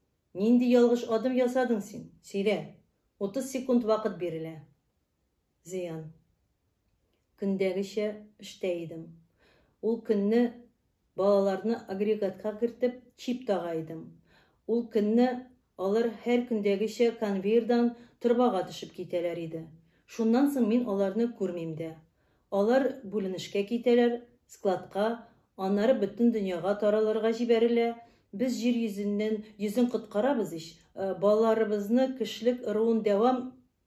Нинди ялгыш адым ясадың син? Сөйлә. Утыз секунд вакыт бирелә. Зыян. Көндәгечә эштә идем. Ул көнне балаларны агрегатка кертеп, чип тага идем. Ул көнне алар һәр көндәгечә конвейердан торбага төшеп китәләр иде. Шуннан соң мин аларны күрмим дә. Алар бүленешкә китәләр, складка, аннары бөтен дөньяга таралырга җибәрелә. Без җир йөзеннән йөзен коткарабыз ич, балаларыбызны кешелек ыруын дәвам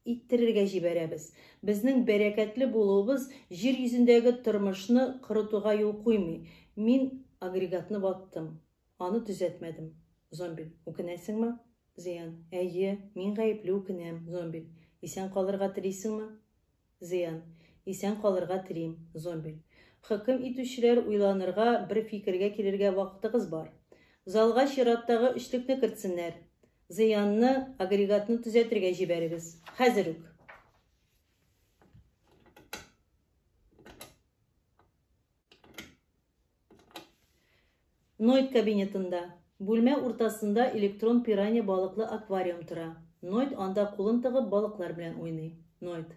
иттерергә җибәрәбез. Безнең бәрәкәтле булуыбыз җир йөзендәге тормышны корытуга юл куймый. Мин агрегатны ваттым. Аны төзәтмәдем. Зомбиль. Үкенәсеңме? Зыян. Әйе, мин гаепле үкенәм. Зомбиль. Исән калырга телисеңме? Зыян. Исән калырга телим. Зомбиль. Хөкем итүчеләр, уйланырга, бер фикергә килергә вакытыгыз бар. Залга чираттагы өчлекне кертсеннәр. Зыянны, агрегатны төзәтергә җибәрегез. Хәзер үк. Нойт кабинетында. Бүлмә уртасында электрон пирания балыклы аквариум тора. Нойт анда кулын тыгып балыклар белән уйный. Нойт.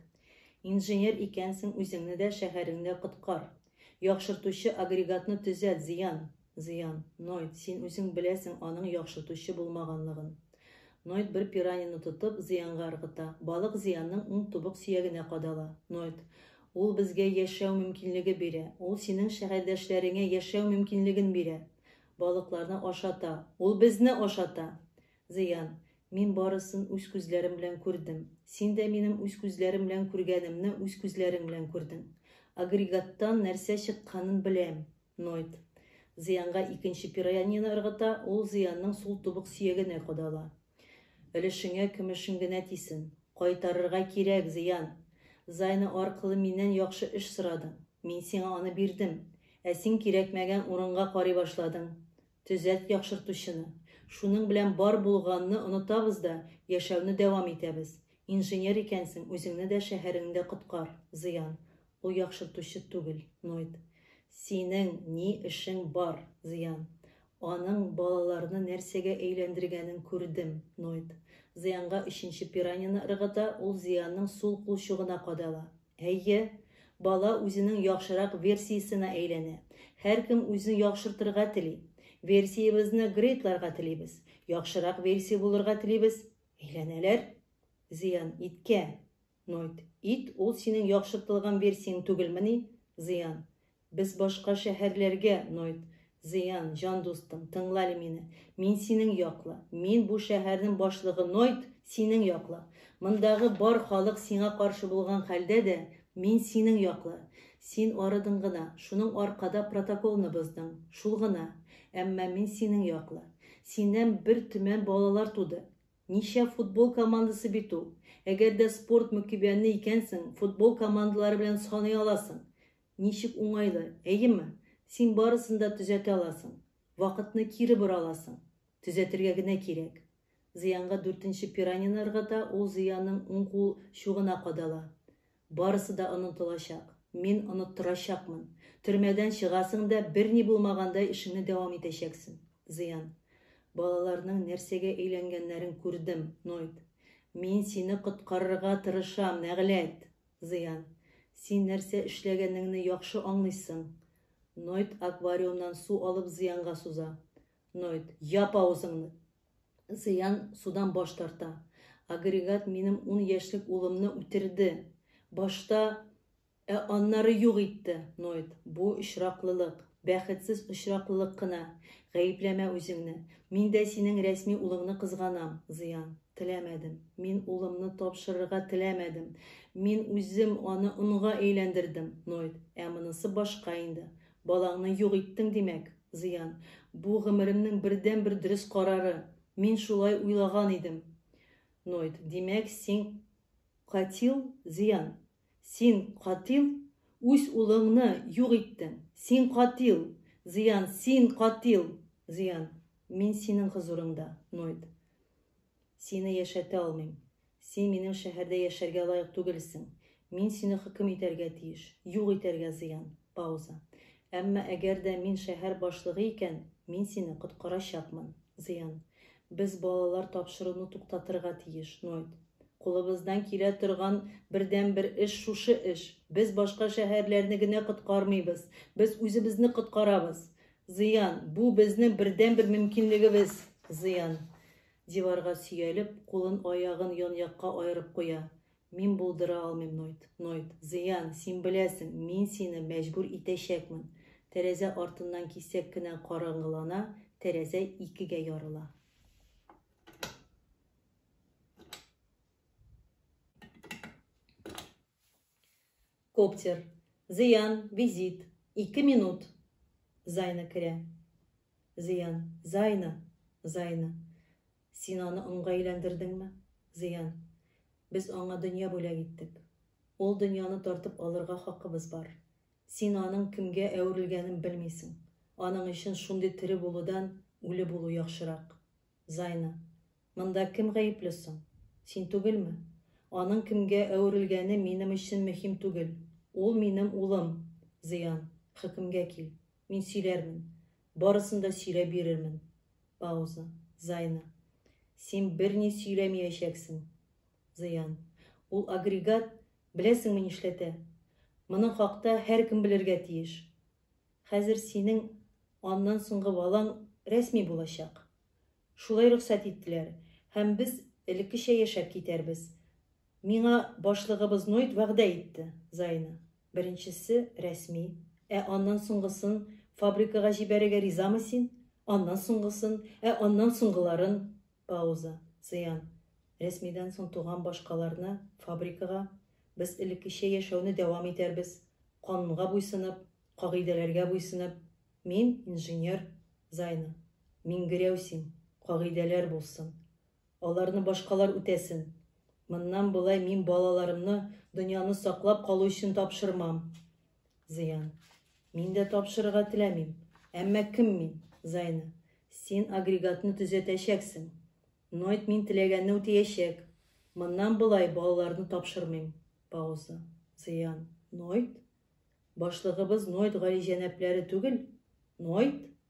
Инженер икәнсең, үзеңне дә, шәһәреңне дә коткар. Яхшыртучы агрегатны төзәт, зыян. Зыян. Нойд, син үзең беләсең аның яхшыртучы булмаганлыгын. Нойд бер пиранияне тотып, Зыянга ыргыта. Балык Зыянның уң тубык сөягенә кадала. Нойд. Ул безгә яшәү мөмкинлеге бирә. Ул синең шәһәрдәшләреңә яшәү мөмкинлеген бирә. Балыкларны ашата. Ул безне ашата! Зыян. Мин барысын үз күзләрем белән күрдем. Син дә минем үз күзләрем белән күргәнемне үз күзләрең белән күрдең. Агрегаттан нәрсә чыкканын беләм. Ноет. Зыянга икенче пироянияне ыргыта, ул Зыянның сул тубык сөягенә кадала. Өлешеңә көмешең генә тисен. Кайтарырга кирәк, Зыян! Зайны аркылы миннән яхшы эш сорадың. Мин сиңа аны бирдем. Ә син кирәкмәгән урынга карый башладың. Төзәт яхшыртучыны. Шуның белән бар булганны онытабыз да, яшәүне дәвам итәбез. Инженер икәнсең, үзеңне дә, шәһәреңне дә коткар. Зыян. Ул яхшыртучы түгел. Ноет. Синең ни эшең бар? Зыян. Аның балаларны нәрсәгә әйләндергәнен күрдем. Ноет. Зыянга өченче пиранияне ыргыта, ул Зыянның сул кулчугына кадала. Әйе, бала үзенең яхшырак версиясенә әйләнә. Һәркем үзен яхшыртырга тели. Версиябезне грейдларга телибез. Яхшырак версия булырга телибез. Әйләнәләр. Зыян иткә. Нойт. Ит, ул синең яхшыртылган версияң түгелмени? Зыян. Без башка шәһәрләргә, Нойт. Зыян, җан дустым, тыңлале мине. Мин синең якла. Мин бу шәһәрнең башлыгы, Нойт, синең якла. Мондагы бар халык сиңа каршы булган хәлдә дә, мин синең якла. Син арыдың гына, шуның аркада протоколны боздың. Шул гына. Әмма мин синең якла. Синнән бер төмән балалар туды. Ничә футбол командасы бит ул. Әгәр дә спорт мөкибәне икәнсең, футбол командалары белән саный аласың. Ничек уңайлы, әйеме? Син барысын да төзәтә аласың. Вакытны кире бора аласың. Төзәтергә генә кирәк. Зыянга дүртенче пиранияне ыргыта, ул Зыяның уң кул чугына кадала. Барысы да онытылачак. Мин оныттырачакмын. Төрмәдән чыгасың да, берни булмагандай эшеңне дәвам итәчәксең. Зыян. Балаларның нәрсәгә өйләнгәннәрен күрдем, Нойд. Мин сине коткарырга тырышам, нәгъләт! Зыян. Син нәрсә эшләгәнеңне яхшы аңлыйсың. Нойд аквариумнан су алып Зыянга суза. Нойд. Яп авызыңны! Зыян судан баш тарта. Агрегат минем ун яшьлек улымны үтерде! Башта, ә аннары юк итте! Нойд. Бу очраклылык. Бәхетсез очраклылык кына. Гаепләмә үзеңне. Мин дә синең рәсми улыңны кызганам, Зыян. Теләмәдем. Мин улымны тапшырырга теләмәдем. Мин үзем аны онга әйләндердем, Нойд. Ә монысы башка инде. Балаңны юк иттең, димәк, Зыян. Бу, гомеремнең бердәнбер дөрес карары. Мин шулай уйлаган идем. Нойд. Димәк, син катил, Зыян? Син, катил, үз улыңны юк иттең! Син, катил, зыян! Син, катил, зыян! Мин синең хозурыңда, Нойд. Сине яшәтә алмыйм. Син минем шәһәрдә яшәргә лаек түгелсең. Мин сине хөкем итәргә тиеш, юк итәргә зыян. Пауза. Әмма әгәр дә мин шәһәр башлыгы икән, мин сине коткарачакмын. Зыян. Без балалар тапшыруны туктатырга тиеш, Нойд. Кулыбыздан килә торган бердәнбер эш шушы эш. Без башка шәһәрләрне генә коткармыйбыз. Без үзебезне коткарабыз. Зыян. Бу безнең бердәнбер мөмкинлегебез. Зыян. Диварга сөялеп, кулын-аягын ян-якка аерып куя. Мин булдыра алмыйм нойт, нойт, зыян, син беләсең, мин сине мәҗбүр итәчәкмен. Тәрәзә артыннан кисәк кенә караңгылана, тәрәзә икегә ярыла. Коптер. Зыян, визит. Ике минут. Зайна керә. Зыян, Зайна, Зайна. Син аны онга әйләндердеңме? Зыян. Без аңа дөнья бүләк иттек. Ул дөньяны тартып алырга хакыбыз бар. Син аның кемгә әверелгәнен белмисең. Аның өчен шундый тере булудан үле булу яхшырак. Зайна. Монда кем гаепле соң? Син түгелме? Аның кемгә әверелгәне минем өчен мөһим түгел. Ул минем улым. Зыян. Хөкемгә кил. Мин сөйләрмен. Барысын да сөйләп бирермен. Пауза. Зайна. Син берни сөйләмиячәксең. Зыян. Ул агрегат, беләсеңме нишләтә? Моның хакта һәркем белергә тиеш. Хәзер синең аннан соңгы балаң рәсми булачак. Шулай рөхсәт иттеләр, һәм без элеккечә яшәп китәрбез. Миңа башлыгыбыз Нойд вәгъдә итте, Зайна. Беренчесе, рәсми. Ә аннан соңгысын фабрикага җибәрергә ризамы син? Аннан соңгысын, ә аннан соңгыларын. Пауза. Зыян. Рәсмидән соң туган башкаларны фабрикага. Без элеккечә яшәүне дәвам итәрбез. Канунга буйсынып, кагыйдәләргә буйсынып. Мин, инженер. Зайна. Миңгерәү син. Кагыйдәләр булсын. Аларны башкалар үтәсен. Моннан болай мин балаларымны дөньяны саклап калу өчен тапшырмам. Зыян. Мин дә тапшырырга теләмим. Әмма кем мин? Зайна. Син агрегатны төзәтәчәксең. Нойт мин теләгәнне үтәячәк. Моннан болай балаларны тапшырмыйм. Пауза. Зыян. Нойт? Башлыгыбыз Нойт галиҗәнапләре түгел? Нойт?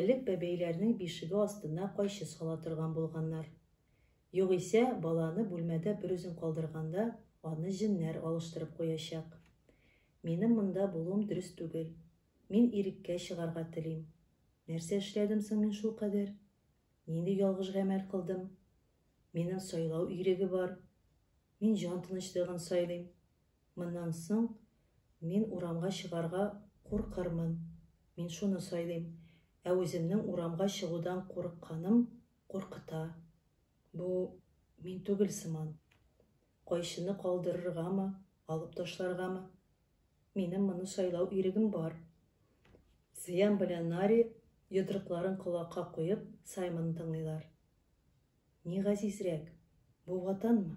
Элек бәбәйләрнең бишеге астына кайчы сала торган булганнар. Югыйсә, баланы бүлмәдә берүзен калдырганда, аны җеннәр алыштырып куячак. Минем монда булуым дөрес түгел. Мин иреккә чыгарга телим. Нәрсә эшләдем соң мин шулкадәр? Нинди ялгыш гамәл кылдым? Минем сайлау иреге бар. Мин җан тынычлыгын сайлыйм. Моннан соң мин урамга чыгарга куркырмын. Мин шуны сайлыйм. Ә үземнең урамга чыгудан курыкканым куркыта. Бу мин түгел сыман. Кайчыны калдырыргамы, алып ташларгамы? Минем моны сайлау ирегем бар. Зыян белән Нари йодрыкларын колакка куеп Саймонны тыңлыйлар. Ни газизрәк, бу ватанмы?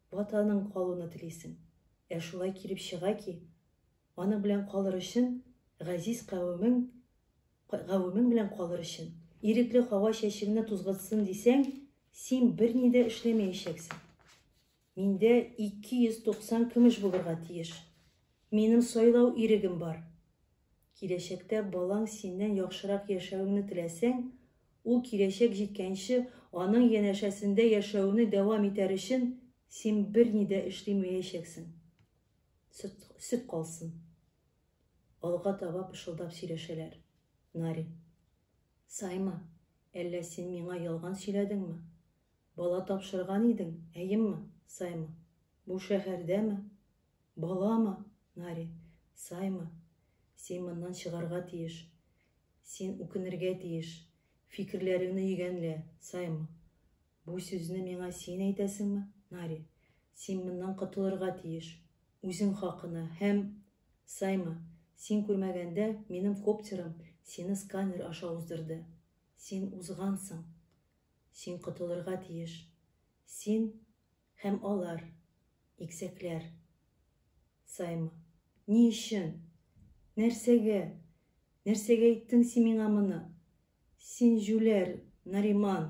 Ватаның калуны телисең. Ә шулай килеп чыга ки, аның белән калыр өчен, газиз кавемең, гавемең белән калыр өчен, ирекле һава чәчеңне тузгытсын дисәң, син берни дә эшләмәячәксең. Миндә 290 көмеш булырга тиеш. Минем сайлау ирегем бар. Киләчәктә балаң синнән яхшырак яшәвеңне теләсәң, ул киләчәк җиткәнче аның янәшәсендә яшәүне дәвам итәр өчен син берни дә эшли мәячәксең. Сөт, сөт калсын. Алга таба пышылдап сөйләшәләр. Нари. Сайма, әллә син миңа ялган сөйләдеңме? Бала тапшырган идең, әйемме, Сайма? Бу шәһәрдәме? Баламы, Нари, саймы, син моннан чыгарга тиеш. Син үкенергә тиеш. Фикерләреңне йөгәнлә, саймы. Бу сүзне миңа син әйтәсеңме, Нари? Син моннан котылырга тиеш. Үзең хакына һәм, саймы, син күрмәгәндә минем коптерым сине сканер аша уздырды. Син узгансың. Син котылырга тиеш. Син Һәм алар, иксәкләр. Саймы. Ни өчен? Нәрсәгә? Нәрсәгә әйттең син миңа моны? Син җүләр, Нариман!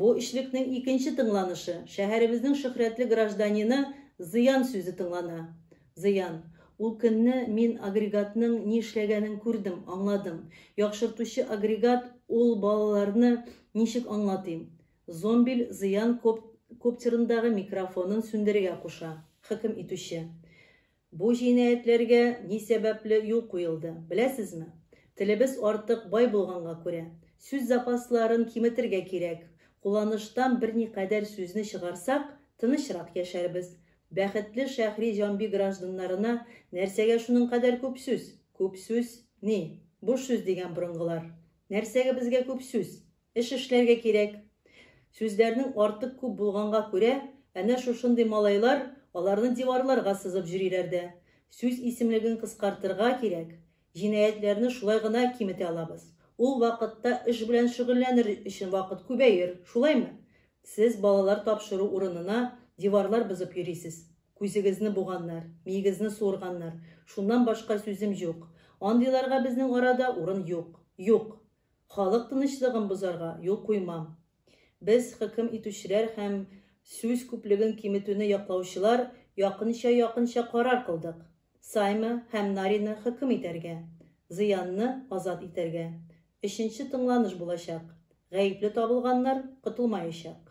Бу өчлекнең икенче тыңланышы, шәһәребезнең шөһрәтле гражданины Зыян сүзе тыңлана. Зыян. Ул көнне мин агрегатның ни эшләгәнен күрдем, аңладым. Яхшыртучы агрегат ул балаларны ничек аңлатыйм? Зомбиль Зыян коп коптерындагы микрофонын сүндерергә куша. Хөкем итүче. Бу җинаятьләргә ни сәбәпле юл куелды, беләсезме? Телебез артык бай булганга күрә, сүз запасларын киметергә кирәк. Кулланыштан берникадәр сүзне чыгарсак, тынычрак яшәрбез. Бәхетле Шәһри Җамби гражданнарына нәрсәгә шуның кадәр күп сүз? Күп сүз, ни, буш сүз дигән борынгылар. Нәрсәгә безгә күп сүз? Эш эшләргә кирәк. Сүзләрнең артык күп булганга күрә, әнә шушындый малайлар аларны диварларга сызып җөриләр дә. Сүз исемлеген кыскартырга кирәк. Җинаятьләрне шулай гына киметә алабыз. Ул вакытта эш белән шөгыльләнер өчен вакыт күбәер, шулаймы? Сез балалар тапшыру урынына диварлар бозып йөрисез. Күзегезне буганнар, миегезне суырганнар. Шуннан башка сүзем җук. Андыйларга безнең арада урын юк. Юк! Халык тынычлыгын бозарга юл куймам. Без, хөкем итүчеләр һәм сүз күплеген киметүне яклаучылар, якынча-якынча карар кылдык, Саймы һәм Нарины хөкем итәргә, Зыянны азат итәргә. Өченче тыңланыш булачак. Гаепле табылганнар котылмаячак.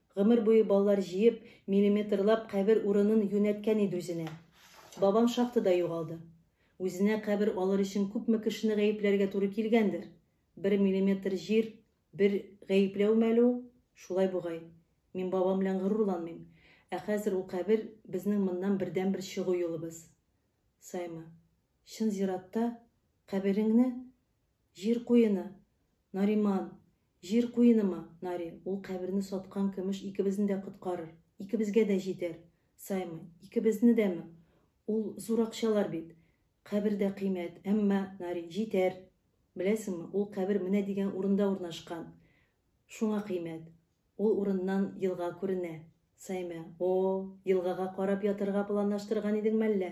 Гомер буе баллар җыеп, миллиметрлап кабер урынын юнәткән иде үзенә. Бабам шахтада югалды. Үзенә кабер алыр өчен күпме кешене гаепләргә туры килгәндер. Бер миллиметр җир, бер гаепләүме әле ул? Шулай бугай. Мин бабам белән горурланмыйм. Ә хәзер ул кабер, безнең моннан бердәнбер чыгу юлыбыз. Саймы. Чын зиратта, кабереңне, җир куены. Нариман. Җир куенымы, Нари, ул каберне саткан көмеш икебезне дә коткарыр, икебезгә дә җитәр. Саймы, икебезне дәме? Ул зур акчалар бит. Кабер дә кыйммәт, әмма, Нари, җитәр. Беләсеңме, ул кабер менә дигән урында урнашкан. Шуңа кыйммәт. Ул урыннан елга күренә. Саймы, О-о, елгага карап ятарга планлаштырган идең мәллә?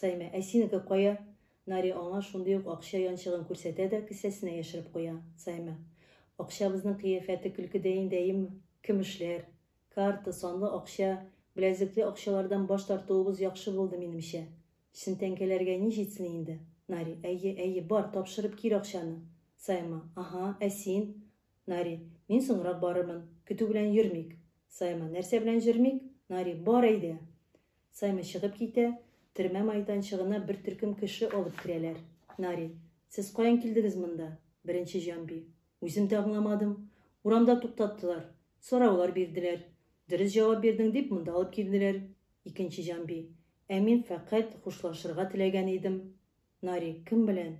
Саймә, Ә синеке кая? Нари аңа шундый ук акча янчыгын күрсәтә дә, кесәсенә яшереп куя. Саймә, Акчабызның кыяфәте көлкедәй инде, әйеме? Көмешләр, карта, санлы акча, беләзекле акчалардан баш тартуыбыз яхшы булды, минемчә. Чын тәңкәләргә ни җитсен инде? Нари, Әйе, әйе, бар, тапшырып кил акчаны. Саймә, Аһа, ә син? Нари, Мин соңрак барырмын. Көтү белән йөрмик. Саймә, Нәрсә белән җөрмик? Нари, Бар, әйдә! Саймы чыгып китә, төрмә майданчыгына бер төркем кеше алып керәләр. Нари, Сез каян килдегез монда? Беренче җанби, Үзем дә аңламадым. Урамда туктаттылар. Сораулар бирделәр. Дөрес җавап бирдең дип, монда алып килделәр. Икенче җанби, Ә мин фәкать хушлашырга теләгән идем. Нари, Кем белән?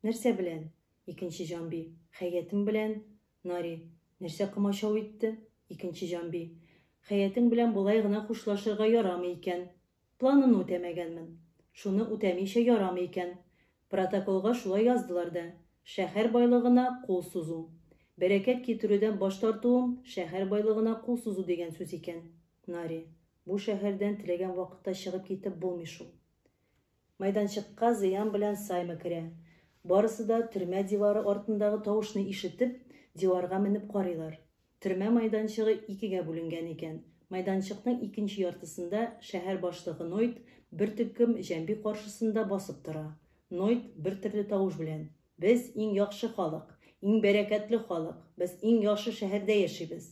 Нәрсә белән? Икенче җанби, Хәятым белән. Нари. Нәрсә комачау итте? Икенче җанби. Хәятең белән болай гына хушлашырга ярамый икән. Планымны үтәмәгәнмен. Шуны үтәмичә ярамый икән. Протоколга шулай яздылар да. Шәһәр байлыгына кул сузу. Бәрәкәт китерүдән баш тартуым шәһәр байлыгына кул сузу дигән сүз икән. Нари. Бу шәһәрдән теләгән вакытта чыгып китеп булмый шул. Майданчыкка Зыян белән Саймы керә. Барысы да төрмә дивары артындагы тавышны ишетеп, диварга менеп карыйлар. Төрмә майданчыгы икегә бүленгән икән. Майданчыкның икенче яртысында шәһәр башлыгы Нойд бер төркем җәнби каршысында басып тора. Нойд бертөрле тавыш белән, Без, иң яхшы халык! Иң бәрәкәтле халык! Без иң яхшы шәһәрдә яшибез!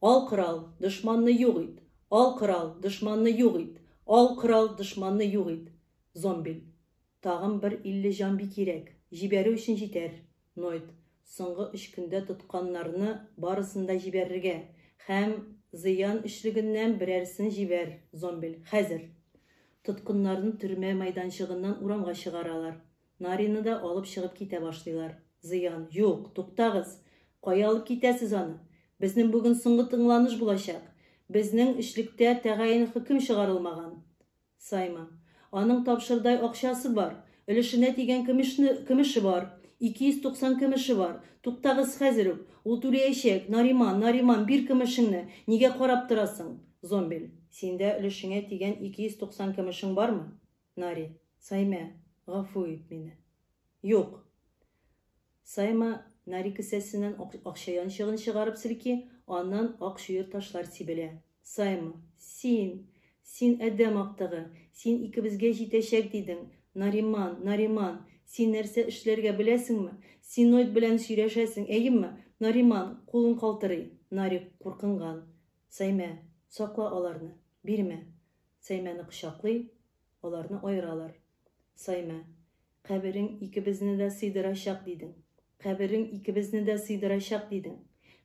Ал корал, дошманны юк ит! Ал корал, дошманны юк ит! Ал корал, дошманны юк ит! Зомбиль. Тагын бер илле җамби кирәк. Җибәрү өчен җитәр. Нойд. Соңгы өч көндә тотканнарны барысын да җибәрергә. Һәм зыян өчлегеннән берәрсен җибәр. Зомбиль. Хәзер. Тоткыннарны төрмә мәйданчыгыннан урамга чыгаралар. Наринны да алып чыгып китә башлыйлар. Зыян, юк, туктагыз! Кая алып китәсез аны? Безнең бүген соңгы тыңланыш булачак. Безнең өчлектә тәгаен хөкем чыгарылмаган. Саймы. Аның тапшырдай акчасы бар. Өлешенә тигән көмешне, көмеше бар. Ике йөз туксан көмеше бар. Туктагыз хәзер үк! Ул түләячәк! Нариман, Нариман, бир көмешеңне! Нигә карап торасың? Зомбель. Синдә өлешеңә тигән ике йөз туксан көмешең бармы? Нари. Саймә, гафу ит мине. Юк! Сайма Нари кесәсеннән акча янчыгын чыгарып селки, аннан ак чуер ташлар сибелә. Сайма. Син! Син адәм актыгы! Син икебезгә җитәчәк дидең! Нариман, Нариман! Син нәрсә эшләргә беләсеңме? Синоид белән сөйләшәсең, әйеме? Нариман, кулын калтырый. Нари, куркынган. Саймә, сакла аларны. Бирмә. Саймәне кочаклый, аларны аералар. Саймә, Каберең икебезне дә сыйдырачак дидең. Каберең икебезне дә сыйдырачак дидең.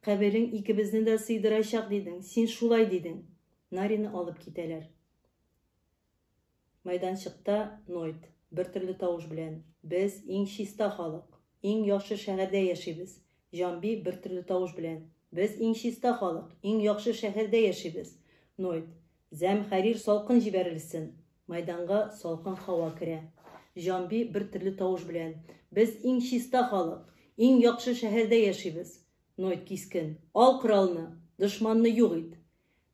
Каберең икебезне дә сыйдырачак дидең. Син шулай дидең. Нарины алып китәләр. Майданчыкта Нойт, бертөрле тавыш белән, Без, иң чиста халык. Иң яхшы шәһәрдә яшибез. Җанби, бертөрле тавыш белән. Без иң чиста халык, иң яхшы шәһәрдә яшибез. Нойд. Зәмхәрир салкын җибәрелсен. Мәйданга салкын һава керә. Җанби, бертөрле тавыш белән. Без иң чиста халык, иң яхшы шәһәрдә яшибез. Нойд кискен. Ал коралны! Дошманны юк ит!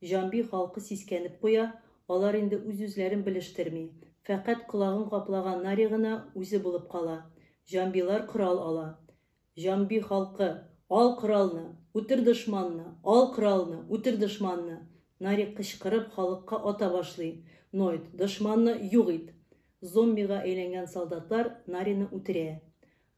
Җанби халкы сискәнеп куя, алар инде үз-үзләрен белештерми, фәкать колагын каплаган Нари гына үзе булып кала. Җанбилар корал ала. Җанби халкы, Ал коралны! Үтер дошманны! Ал коралны! Үтер дошманны! Нари кычкырып халыкка ата башлый, Нойт, дошманны юк ит! Зомбига әйләнгән солдатлар Нарины үтерә.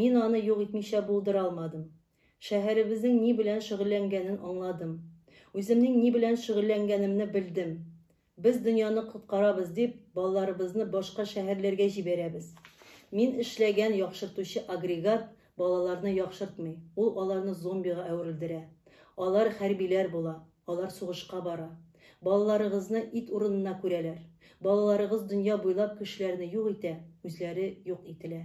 Мин аны юк итмичә булдыра алмадым. Шәһәребезнең ни белән шөгыльләнгәнен аңладым. Үземнең ни белән шөгыльләнгәнемне белдем. Без дөньяны коткарабыз дип, балаларыбызны башка шәһәрләргә җибәрәбез. Мин эшләгән яхшыртучы агрегат балаларны яхшыртмый, ул аларны зомбига әверелдерә. Алар хәрбиләр була, алар сугышка бара. Балаларыгызны ит урынына күрәләр. Балаларыгыз дөнья буйлап кешеләрне юк итә, үзләре юк ителә.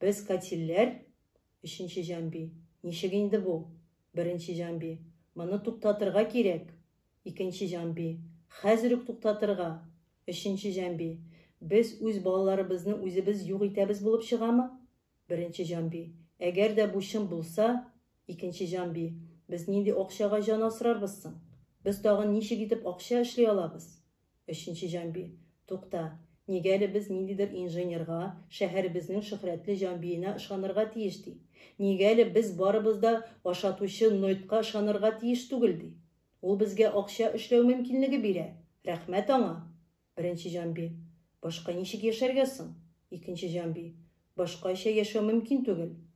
Без катилләр? Өченче җанби. Ничек инде бу? Беренче җанби. Моны туктатырга кирәк! Икенче җанби. Хәзер үк туктатырга! Өченче җанби. Без үз балаларыбызны үзебез юк итәбез булып чыгамы? Беренче җанби. Әгәр дә бу чын булса, Икенче җанби. Без нинди акчага җан асрарбыз соң? Без тагын ничек итеп акча эшли алабыз? Өченче җанби. Тукта, нигә әле без ниндидер инженерга, шәһәребезнең шөһрәтле җанбиенә ышанырга тиеш ди? Нигә әле без барыбыз да ашатучы Нойтка ышанырга тиеш түгел ди? Ул безгә акча эшләү мөмкинлеге бирә, рәхмәт аңа! Беренче җанби. Башка ничек яшәргә соң? Икенче җанби. Башкача яшәү мөмкин түгел.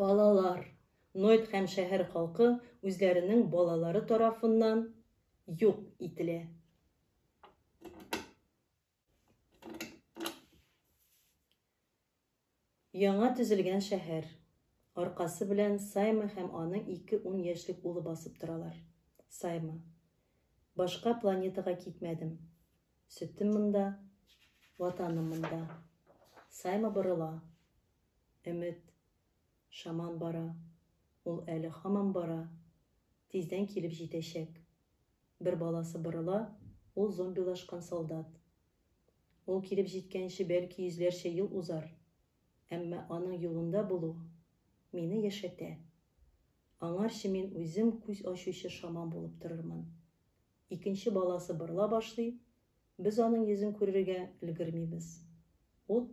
Балалар, Нойт һәм шәһәр халкы үзләренең балалары тарафыннан юк ителә. Яңа төзелгән шәһәр. Аркасы белән Сайма һәм аның ике ун яшьлек улы басып торалар. Сайма. Башка планетага китмәдем. Сөтем монда, ватаным монда. Сайма борыла. Өмет. Шаман бара. Ул әле һаман бара. Тиздән килеп җитәчәк. Бер баласы борыла, ул зомбилашкан солдат. Ул килеп җиткәнче бәлки йөзләрчә ел узар, әмма аның юлында булу мине яшәтә. Аңарчы мин үзем күз ачучы шаман булып торырмын. Икенче баласы борыла башлый, без аның йөзен күрергә өлгермибез. Ут